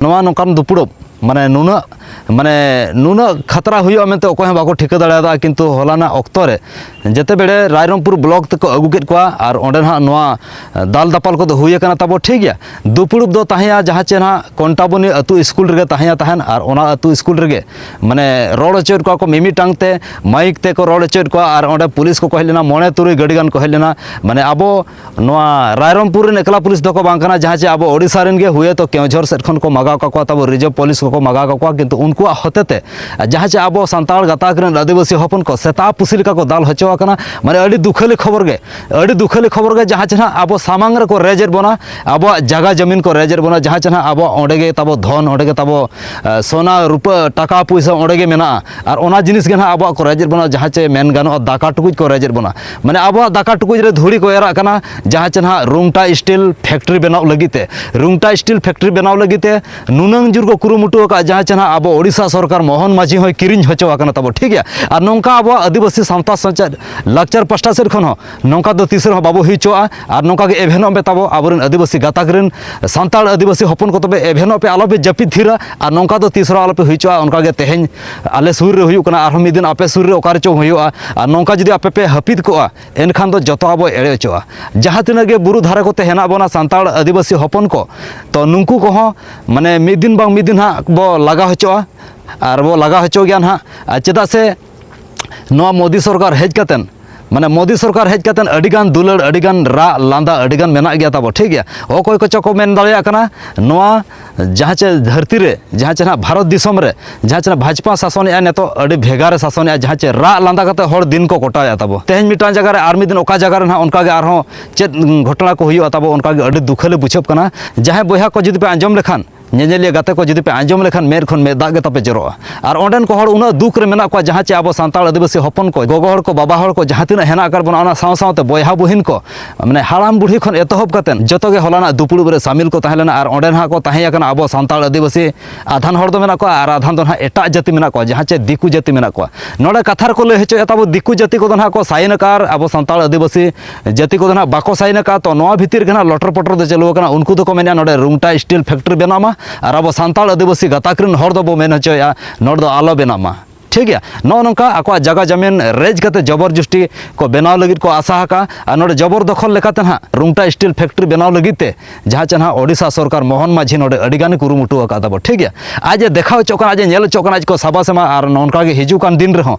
ᱱᱚᱣᱟ ᱱᱚᱝᱠᱟᱱ ᱫᱩᱯᱲᱩᱵ ᱢᱟᱱᱮ ᱱᱩᱱᱟᱹᱜ ᱢᱟᱱᱮ ᱱᱩᱱᱟᱹᱜ ᱠᱷᱟᱛᱨᱟ ᱦᱩᱭᱩᱜᱼᱟ ᱢᱮᱱᱛᱮ ᱚᱠᱚᱭ ᱦᱚᱸ ᱵᱟᱠᱚ ᱴᱷᱤᱠᱟᱹ ᱫᱟᱲᱮᱭᱟᱫᱟ ᱠᱤᱱᱛᱩ ᱦᱚᱞᱟᱱᱟᱜ ᱚᱠᱛᱚ ᱨᱮ ᱡᱮᱛᱮ ᱵᱮᱲᱮ ᱨᱟᱭᱨᱚᱝᱯᱩᱨ ᱵᱞᱚᱠ ᱛᱮᱠᱚ ᱟᱹᱜᱩ ᱠᱮᱫ ᱠᱚᱣᱟ ᱟᱨ ᱚᱸᱰᱮ ᱱᱟᱦᱟᱜ ᱱᱚᱣᱟ ᱫᱟᱞ ᱫᱟᱯᱟᱞ ᱠᱚᱫᱚ ᱦᱩᱭ ᱟᱠᱟᱱᱟ ᱛᱟᱵᱚ ᱴᱷᱤᱠ ᱜᱮᱭᱟ ᱫᱩᱯᱲᱩᱵ ᱫᱚ ᱛᱟᱦᱮᱸᱭᱟ ᱡᱟᱦᱟᱸ ᱪᱮ ᱱᱟᱦᱟᱜ ᱠᱚᱱᱴᱟᱵᱚᱱᱤ ᱟᱹᱛᱩ ᱥᱠᱩᱞ ᱨᱮᱜᱮ ᱛᱟᱦᱮᱸᱭᱟ ᱛᱟᱦᱮᱱ ᱟᱨ ᱚᱱᱟ ᱟᱹᱛᱩ ᱥᱠᱩᱞ ᱨᱮᱜᱮ ᱢᱟᱱᱮ ᱨᱚᱲ ᱦᱚᱪᱚᱭᱮᱫ ᱠᱚᱣᱟ ᱠᱚ ᱢᱤᱢᱤᱫᱴᱟᱝ ᱛᱮ ᱢᱟᱭᱤᱠ ᱛᱮᱠᱚ ᱨᱚᱲ ᱦᱚᱪᱚᱭᱮᱫ ᱠᱚᱣᱟ ᱟᱨ ᱚᱸᱰᱮ ᱯᱩᱞᱤᱥ ᱠᱚᱠᱚ ᱦᱮᱡ ᱞᱮᱱᱟ ᱢᱚᱬᱮ ᱛᱩᱨᱩᱭ ᱜᱟᱹᱰᱤ ᱜᱟᱱ ᱠᱚ ᱦᱮᱡ ᱞᱮᱱᱟ ᱢᱟᱱᱮ ᱟᱵᱚ ᱱᱚᱣᱟ ᱨᱟᱭᱨᱚᱝᱯᱩᱨ ᱨᱮᱱ ᱮᱠᱞᱟ ᱯᱩᱞᱤᱥ ᱫᱚᱠᱚ ᱵᱟᱝ ᱠᱟᱱᱟ ᱡᱟᱦᱟᱸ ᱪᱮ ᱟᱵᱚ ᱳᱰᱤᱥᱟ ᱨᱮᱱ ᱜᱮ ᱦᱩᱭᱮ ᱛᱚ ᱠᱮᱣᱡᱷᱚᱨ ᱥᱮᱫ ᱠᱷᱚᱱ ᱠᱚ ᱢᱟᱜᱟᱣ ᱠᱟᱠᱚᱣᱟ ᱛᱟᱵᱚ ᱨᱤᱡᱟᱹᱵᱷ ᱯᱩᱞᱤᱥ ᱠᱚᱠᱚ ᱢᱟᱜᱟᱣ ᱠᱟᱠᱚᱣᱟ ᱠᱤᱱᱛᱩ ᱩᱱᱠᱩᱣᱟᱜ ᱦᱚᱛᱮᱛᱮ ᱡᱟᱦᱟᱸ ᱪᱮ ᱟᱵᱚ ᱥᱟᱱᱛᱟᱲ ᱜᱟᱛᱟᱠ ᱨᱮᱱ ᱟᱹᱫᱤᱵᱟᱹᱥᱤ ᱦᱚᱯᱚᱱ ᱠᱚ ᱥᱮᱛᱟ ᱯᱩᱥᱤ ᱞᱮᱠᱟ ᱠᱚ ᱫᱟᱞ ᱦᱚᱪᱚ ᱟᱠᱟᱱᱟ ᱢᱟᱱᱮ ᱟᱹᱰᱤ ᱫᱩᱠᱷᱟᱹᱞᱤ ᱠᱷᱚᱵᱚᱨ ᱜᱮ ᱟᱹᱰᱤ ᱫᱩᱠᱷᱟᱹᱞᱤ ᱠᱷᱚᱵᱚᱨ ᱜᱮ ᱡᱟᱦᱟᱸ ᱪᱮ ᱟᱵᱚ ᱥᱟᱢᱟᱝ ᱨᱮᱠᱚ ᱨᱮᱡᱮᱫ ᱵᱚᱱᱟ ᱟᱵᱚᱣᱟᱜ ᱡᱟᱭᱜᱟ ᱡᱚᱢᱤᱱ ᱠᱚ ᱨᱮᱡᱮᱫ ᱵᱚᱱᱟ ᱡᱟᱦᱟᱸ ᱪᱮ ᱟᱵᱚ ᱚᱸᱰᱮ ᱜᱮ ᱛᱟᱵᱚ ᱫᱷᱚᱱ ᱚᱸᱰᱮ ᱜᱮ ᱛᱟᱵᱚ ᱥᱚᱱᱟ ᱨᱩᱯᱟᱹ ᱴᱟᱠᱟ ᱯᱩᱭᱥᱟᱹ ᱚᱸᱰᱮ ᱜᱮ ᱢᱮᱱᱟᱜᱼᱟ ᱟᱨ ᱚᱱᱟ ᱡᱤᱱᱤᱥ ᱜᱮ ᱱᱟᱦᱟᱜ ᱟᱵᱚᱣᱟᱜ ᱠᱚ ᱨᱮᱡᱮᱫ ᱵᱚᱱᱟ ᱡᱟᱦᱟᱸ ᱪᱮ ᱢᱮᱱ ᱜᱟᱱᱚᱜᱼᱟ ᱫᱟᱠᱟ ᱴᱩᱠᱩᱡ ᱠᱚ ᱨᱮᱡᱮᱫ ᱵᱚᱱᱟ ᱢᱟᱱᱮ ᱟᱵᱚᱣᱟᱜ ᱫᱟᱠᱟ ᱴᱩᱠᱩᱡ ᱨᱮ ᱫᱷᱩᱲᱤ ᱠᱚ ᱮᱨᱟᱜ ᱠᱟᱱᱟ ᱡᱟᱦᱟᱸ ᱪᱮ ᱱᱟᱦᱟᱜ ᱨᱩᱝᱴᱟ ᱥᱴᱤᱞ ᱯᱷᱮᱠᱴᱨᱤ ᱵᱮᱱᱟᱣ ᱞᱟᱹᱜᱤᱫ ᱛᱮ ᱨᱩᱝᱴᱟ ᱥᱴᱤᱞ ᱯᱷᱮᱠᱴᱨᱤ ᱵᱮᱱᱟᱣ ᱞᱟᱹᱜᱤᱫ ᱛᱮ ᱱᱩᱱᱟᱹᱝ ᱡᱳᱨ ᱠᱚ ᱠᱩᱨᱩᱢᱩᱴᱩ ᱟᱠᱟᱫ ᱡᱟᱦᱟᱸ ᱪᱮ ᱱᱟᱦᱟᱜ ᱟᱵᱚ ᱳᱰᱤᱥᱟ ᱥᱚᱨᱠᱟᱨ ᱢᱳᱦᱚᱱ ᱢᱟᱹᱡᱷᱤ ᱦᱚᱸᱭ ᱠᱤᱨᱤᱧ ᱦᱚᱪᱚ ᱟᱠᱟᱱᱟ ᱛᱟᱵᱚ ᱴᱷᱤᱠ ᱜᱮᱭᱟ ᱟᱨ ᱱᱚᱝᱠᱟ ᱟᱵᱚᱣᱟᱜ ᱟᱹᱫᱤᱵᱟᱹᱥᱤ ᱥᱟᱶᱛᱟ ᱥᱮᱪᱮᱫ ᱞᱟᱠᱪᱟᱨ ᱯᱟᱥᱴᱟ ᱥᱮᱫ ᱠᱷᱚᱱ ᱦᱚᱸ ᱱᱚᱝᱠᱟ ᱫᱚ ᱛᱤᱥ ᱨᱮᱦᱚᱸ ᱵᱟᱵᱚ ᱦᱩᱭ ᱦᱚᱪᱚᱣᱟᱜᱼᱟ ᱟᱨ ᱱᱚᱝᱠᱟ ᱜᱮ ᱮᱵᱷᱮᱱᱚᱜ ᱢᱮ ᱛᱟᱵᱚ ᱟᱵᱚᱨᱮᱱ ᱟᱹᱫᱤᱵᱟᱹᱥᱤ ᱜᱟᱛᱟᱠ ᱨᱮᱱ ᱥᱟᱱᱛᱟᱲ ᱟᱹᱫᱤᱵᱟᱹᱥᱤ ᱦᱚᱯᱚᱱ ᱠᱚ ᱛᱚᱵᱮ ᱮᱵᱷᱮᱱᱚᱜ ᱯᱮ ᱟᱞᱚᱯᱮ ᱡᱟᱹᱯᱤᱫ ᱛᱷᱤᱨᱟ ᱟᱨ ᱱᱚᱝᱠᱟ ᱫᱚ ᱛᱤᱥ ᱨᱮᱦᱚᱸ ᱟᱞᱚᱯᱮ ᱦᱩᱭ ᱦᱚᱪᱚᱣᱟᱜᱼᱟ ᱚᱱᱠᱟ ᱜᱮ ᱛᱮᱦᱮᱧ ᱟᱞᱮ ᱥᱩᱨ ᱨᱮ ᱦᱩᱭᱩᱜ ᱠᱟᱱᱟ ᱟᱨᱦᱚᱸ ᱢᱤᱫ ᱫᱤᱱ ᱟᱯᱮ ᱥᱩᱨ ᱨᱮ ᱚᱠᱟ ᱨᱮᱪᱚ ᱦᱩᱭᱩᱜᱼᱟ ᱟᱨ ᱱᱚᱝᱠᱟ ᱡᱩᱫᱤ ᱟᱯᱮ ᱯᱮ ᱦᱟᱹᱯᱤᱫ ᱠᱚᱜᱼᱟ ᱮᱱᱠᱷᱟᱱ ᱫᱚ ᱡᱚᱛᱚ ᱟᱵᱚ ᱮᱲᱮ ᱦᱚᱪᱚᱜᱼᱟ ᱡᱟᱦᱟᱸ ᱛᱤᱱᱟᱹᱜ ᱜᱮ ᱵᱩᱨᱩ ᱫᱷᱟᱨᱮ ᱠᱚᱛᱮ ᱦᱮᱱᱟᱜ ᱵᱚᱱᱟ ᱥᱟᱱᱛᱟᱲ ᱟᱹᱫᱤᱵᱟᱹᱥᱤ ᱦᱚᱯᱚᱱ ᱠᱚ ᱛᱚ ᱱᱩᱠᱩ ᱠᱚᱦᱚᱸ ᱢᱟᱱᱮ ᱢᱤᱫ ᱫᱤᱱ ᱵᱟᱝ ᱢᱤᱫ ᱫᱤᱱ ᱦᱟᱸᱜ ᱵᱚ ᱞᱟᱜᱟ ᱦᱚᱪᱚᱜᱼᱟ ᱟᱨ ᱵᱚ ᱞᱟᱜᱟ ᱦᱚᱪᱚ ᱜᱮᱭᱟ ᱦᱟᱸᱜ ᱪᱮᱫᱟᱜ ᱥᱮ ᱱᱚᱣᱟ ᱢᱳᱫᱤ ᱥᱚᱨᱠᱟᱨ ᱦᱮᱡ ᱠᱟᱛᱮᱫ ᱢᱟᱱᱮ ᱢᱳᱫᱤ ᱥᱚᱨᱠᱟᱨ ᱦᱮᱡ ᱠᱟᱛᱮ ᱟᱹᱰᱤᱜᱟᱱ ᱫᱩᱞᱟᱹᱲ ᱟᱹᱰᱤᱜᱟᱱ ᱨᱟᱜ ᱞᱟᱸᱫᱟ ᱟᱹᱰᱤᱜᱟᱱ ᱢᱮᱱᱟᱜ ᱜᱮᱭᱟ ᱛᱟᱵᱚ ᱴᱷᱤᱠ ᱜᱮᱭᱟ ᱚᱠᱚᱭ ᱠᱚᱪᱚ ᱠᱚ ᱢᱮᱱ ᱫᱟᱲᱮᱭᱟᱜ ᱠᱟᱱᱟ ᱱᱚᱣᱟ ᱡᱟᱦᱟᱸ ᱪᱮ ᱫᱷᱟᱹᱨᱛᱤ ᱨᱮ ᱡᱟᱦᱟᱸ ᱪᱮ ᱱᱟᱦᱟᱜ ᱵᱷᱟᱨᱚᱛ ᱫᱤᱥᱚᱢ ᱨᱮ ᱡᱟᱦᱟᱸ ᱪᱮ ᱵᱷᱟᱡᱽᱯᱟ ᱥᱟᱥᱚᱱᱮᱜᱼᱟ ᱱᱤᱛᱚᱜ ᱟᱹᱰᱤ ᱵᱷᱮᱜᱟᱨᱮ ᱥᱟᱥᱚᱱᱮᱜᱼᱟ ᱡᱟᱦᱟᱸ ᱪᱮ ᱨᱟᱜ ᱞᱟᱸᱫᱟ ᱠᱟᱛᱮ ᱦᱚᱲ ᱫᱤᱱ ᱠᱚ ᱠᱚᱴᱟᱣᱮᱜᱼᱟ ᱛᱟᱵᱚ ᱛᱮᱦᱮᱧ ᱢᱤᱫᱴᱟᱝ ᱡᱟᱭᱜᱟ ᱨᱮ ᱟᱨ ᱢᱤᱫ ᱫᱤᱱ ᱚᱠᱟ ᱡᱟᱭᱜᱟ ᱨᱮ ᱱᱟᱦᱟᱜ ᱚᱱᱠᱟᱜᱮ ᱟᱨᱦᱚᱸ ᱪᱮᱫ ᱜᱷᱚᱴᱚᱱᱟ ᱠᱚ ᱦᱩᱭᱩᱜᱼᱟ ᱛᱟᱵᱚ ᱚᱱᱠᱟᱜᱮ ᱟᱹᱰᱤ ᱫᱩᱠᱷᱟᱹᱞᱤ ᱵᱩᱡᱷᱟᱹᱜ ᱠᱟᱱᱟ ᱡᱟᱦᱟᱸᱭ ᱵᱚᱭᱦᱟ ᱠᱚ ᱡᱩᱫᱤ ᱯᱮ ᱟᱸᱡᱚᱢ ᱞᱮᱠᱷᱟᱱ ᱧᱮᱧᱮᱞᱤᱭᱟᱹ ᱜᱟᱛᱮ ᱠᱚ ᱡᱩᱫᱤ ᱯᱮ ᱟᱸᱡᱚᱢ ᱞᱮᱠᱷᱟᱱ ᱢᱮᱫ ᱠᱷᱚᱱ ᱢᱮᱫ ᱫᱟᱜ ᱜᱮ ᱛᱟᱯᱮ ᱡᱚᱨᱚᱜᱼᱟ ᱟᱨ ᱚᱸᱰᱮᱱ ᱠᱚ ᱦᱚᱲ ᱩᱱᱟᱹᱜ ᱫᱩᱠ ᱨᱮ ᱢᱮᱱᱟᱜ ᱠᱚᱣᱟ ᱡᱟᱦᱟᱸ ᱪᱮ ᱟᱵᱚ ᱥᱟᱱᱛᱟᱲ ᱟᱹᱫᱤᱵᱟᱹᱥᱤ ᱦᱚᱯᱚᱱ ᱠᱚ ᱜᱚᱜᱚ ᱦᱚᱲ ᱠᱚ ᱵᱟᱵᱟ ᱦᱚᱲ ᱠᱚ ᱡᱟᱦᱟᱸ ᱛᱤᱱᱟᱹᱜ ᱦᱮᱱᱟᱜ ᱟᱠᱟᱫ ᱵᱚᱱᱟ ᱚᱱᱟ ᱥᱟᱶ ᱥᱟᱶᱛᱮ ᱵᱚᱭᱦᱟ ᱵᱩᱦᱤᱱ ᱠᱚ ᱢᱟᱱᱮ ᱦᱟᱲᱟᱢ ᱵᱩᱲᱦᱤ ᱠᱷᱚᱱ ᱮᱛᱚᱦᱚᱵ ᱠᱟᱛᱮ ᱡᱚᱛᱚ ᱜᱮ ᱦᱚᱞᱟᱱᱟᱜ ᱫᱩᱯᱲᱩᱵ ᱨᱮ ᱥᱟᱢᱤᱞ ᱠᱚ ᱛᱟᱦᱮᱸ ᱞᱮᱱᱟ ᱟᱨ ᱚᱸᱰᱮ ᱱᱟᱦᱟᱜ ᱠᱚ ᱛᱟᱦᱮᱸ ᱟᱠᱟᱱᱟ ᱟᱵᱚ ᱥᱟᱱᱛᱟᱲ ᱟᱹᱫᱤᱵᱟᱹᱥᱤ ᱟᱫᱷᱟᱱ ᱦᱚᱲ ᱫᱚ ᱢᱮᱱᱟᱜ ᱠᱚᱣᱟ ᱟᱨ ᱟᱫᱷᱟᱱ ᱫᱚ ᱱᱟᱦᱟᱜ ᱮᱴᱟᱜ ᱡᱟᱹᱛᱤ ᱢᱮᱱᱟᱜ ᱠᱚᱣᱟ ᱡᱟᱦᱟᱸ ᱪᱮ ᱫᱤᱠᱩ ᱡᱟᱹᱛᱤ ᱢᱮᱱᱟᱜ ᱠᱚᱣᱟ ᱱᱚᱰᱮ ᱠᱟᱛᱷᱟ ᱨᱮᱠᱚ ᱞᱟᱹᱭ ᱦᱚᱪᱚᱭᱮᱫ ᱛᱟᱵᱚ ᱫᱤᱠᱩ ᱡᱟᱹᱛᱤ ᱠᱚᱫᱚ ᱱᱟᱦᱟᱜ ᱠᱚ ᱥᱟᱭᱤᱱ ᱟᱠᱟᱫᱼᱟ ᱟᱵᱚ ᱥᱟᱱᱛᱟᱲ ᱟᱹᱫᱤᱵᱟᱹᱥᱤ ᱡᱟᱹᱛᱤ ᱠᱚᱫᱚ ᱱᱟᱦᱟᱜ ᱵᱟᱠᱚ ᱥᱟᱭᱤᱱ ᱟᱠᱟᱫ ᱛᱚ ᱱᱚᱣᱟ ᱵᱷᱤᱛᱤᱨ ᱨᱮᱜᱮ ᱱᱟᱦᱟᱜ ᱞᱚᱴᱚᱨ ᱯᱚᱴᱚᱨ ᱫᱚ ᱪᱟᱹᱞᱩ ᱟᱠᱟᱱᱟ ᱩᱱᱠᱩ ᱫᱚᱠᱚ ᱢᱮᱱᱟ ᱱᱚᱰᱮ ᱨᱩᱝᱴᱟ ᱥᱴᱤᱞ ᱯᱷᱮᱠᱴᱨᱤ ᱵᱮᱱᱟᱜ ᱢᱟ ᱟᱨ ᱟᱵᱚ ᱥᱟᱱᱛᱟᱲ ᱟᱹᱫᱤᱵᱟᱹᱥᱤ ᱜᱟᱛᱟᱠ ᱨᱮᱱ ᱦᱚᱲ ᱫᱚᱵᱚ ᱢᱮᱱ ᱦᱚᱪᱚᱭᱮᱫᱼᱟ ᱱᱚᱰᱮ ᱫᱚ ᱟᱞᱚ ᱵᱮᱱᱟᱜ ᱢᱟ ᱴᱷᱤᱠ ᱜᱮᱭᱟ ᱱᱚᱜᱼᱚ ᱱᱚᱝᱠᱟ ᱟᱠᱚᱣᱟᱜ ᱡᱟᱭᱜᱟ ᱡᱟᱢᱤᱱ ᱨᱮᱡ ᱠᱟᱛᱮ ᱡᱚᱵᱚᱨ ᱡᱩᱥᱴᱤ ᱠᱚ ᱵᱮᱱᱟᱣ ᱞᱟᱹᱜᱤᱫ ᱠᱚ ᱟᱥᱟ ᱟᱠᱟᱫᱼᱟ ᱟᱨ ᱱᱚᱰᱮ ᱡᱚᱵᱚᱨ ᱫᱚᱠᱷᱚᱞ ᱞᱮᱠᱟᱛᱮ ᱱᱟᱦᱟᱜ ᱨᱩᱝᱴᱟ ᱥᱴᱤᱞ ᱯᱷᱮᱠᱴᱨᱤ ᱵᱮᱱᱟᱣ ᱞᱟᱹᱜᱤᱫ ᱛᱮ ᱡᱟᱦᱟᱸ ᱪᱮ ᱱᱟᱦᱟᱜ ᱳᱰᱤᱥᱟ ᱥᱚᱨᱠᱟᱨ ᱢᱳᱦᱚᱱ ᱢᱟᱹᱡᱷᱤ ᱱᱚᱰᱮ ᱟᱹᱰᱤ ᱜᱟᱱ ᱠᱩᱨᱩᱢᱩᱴᱩ ᱟᱠᱟᱫ ᱛᱟᱵᱚ ᱴᱷᱤᱠ ᱜᱮᱭᱟ ᱟᱡ ᱮ ᱫᱮᱠᱷᱟᱣ ᱦᱚᱪᱚᱜ ᱠᱟᱱᱟ ᱟᱡ ᱮ ᱧᱮᱞ ᱦᱚᱪᱚᱜ ᱠᱟᱱᱟ ᱟᱡ ᱠᱚ ᱥᱟᱵᱟ ᱥᱮ ᱵᱟᱝ ᱟᱨ ᱱᱚᱝᱠᱟ ᱜᱮ ᱦᱤᱡᱩᱜ ᱠᱟᱱ ᱫᱤᱱ ᱨᱮᱦᱚᱸ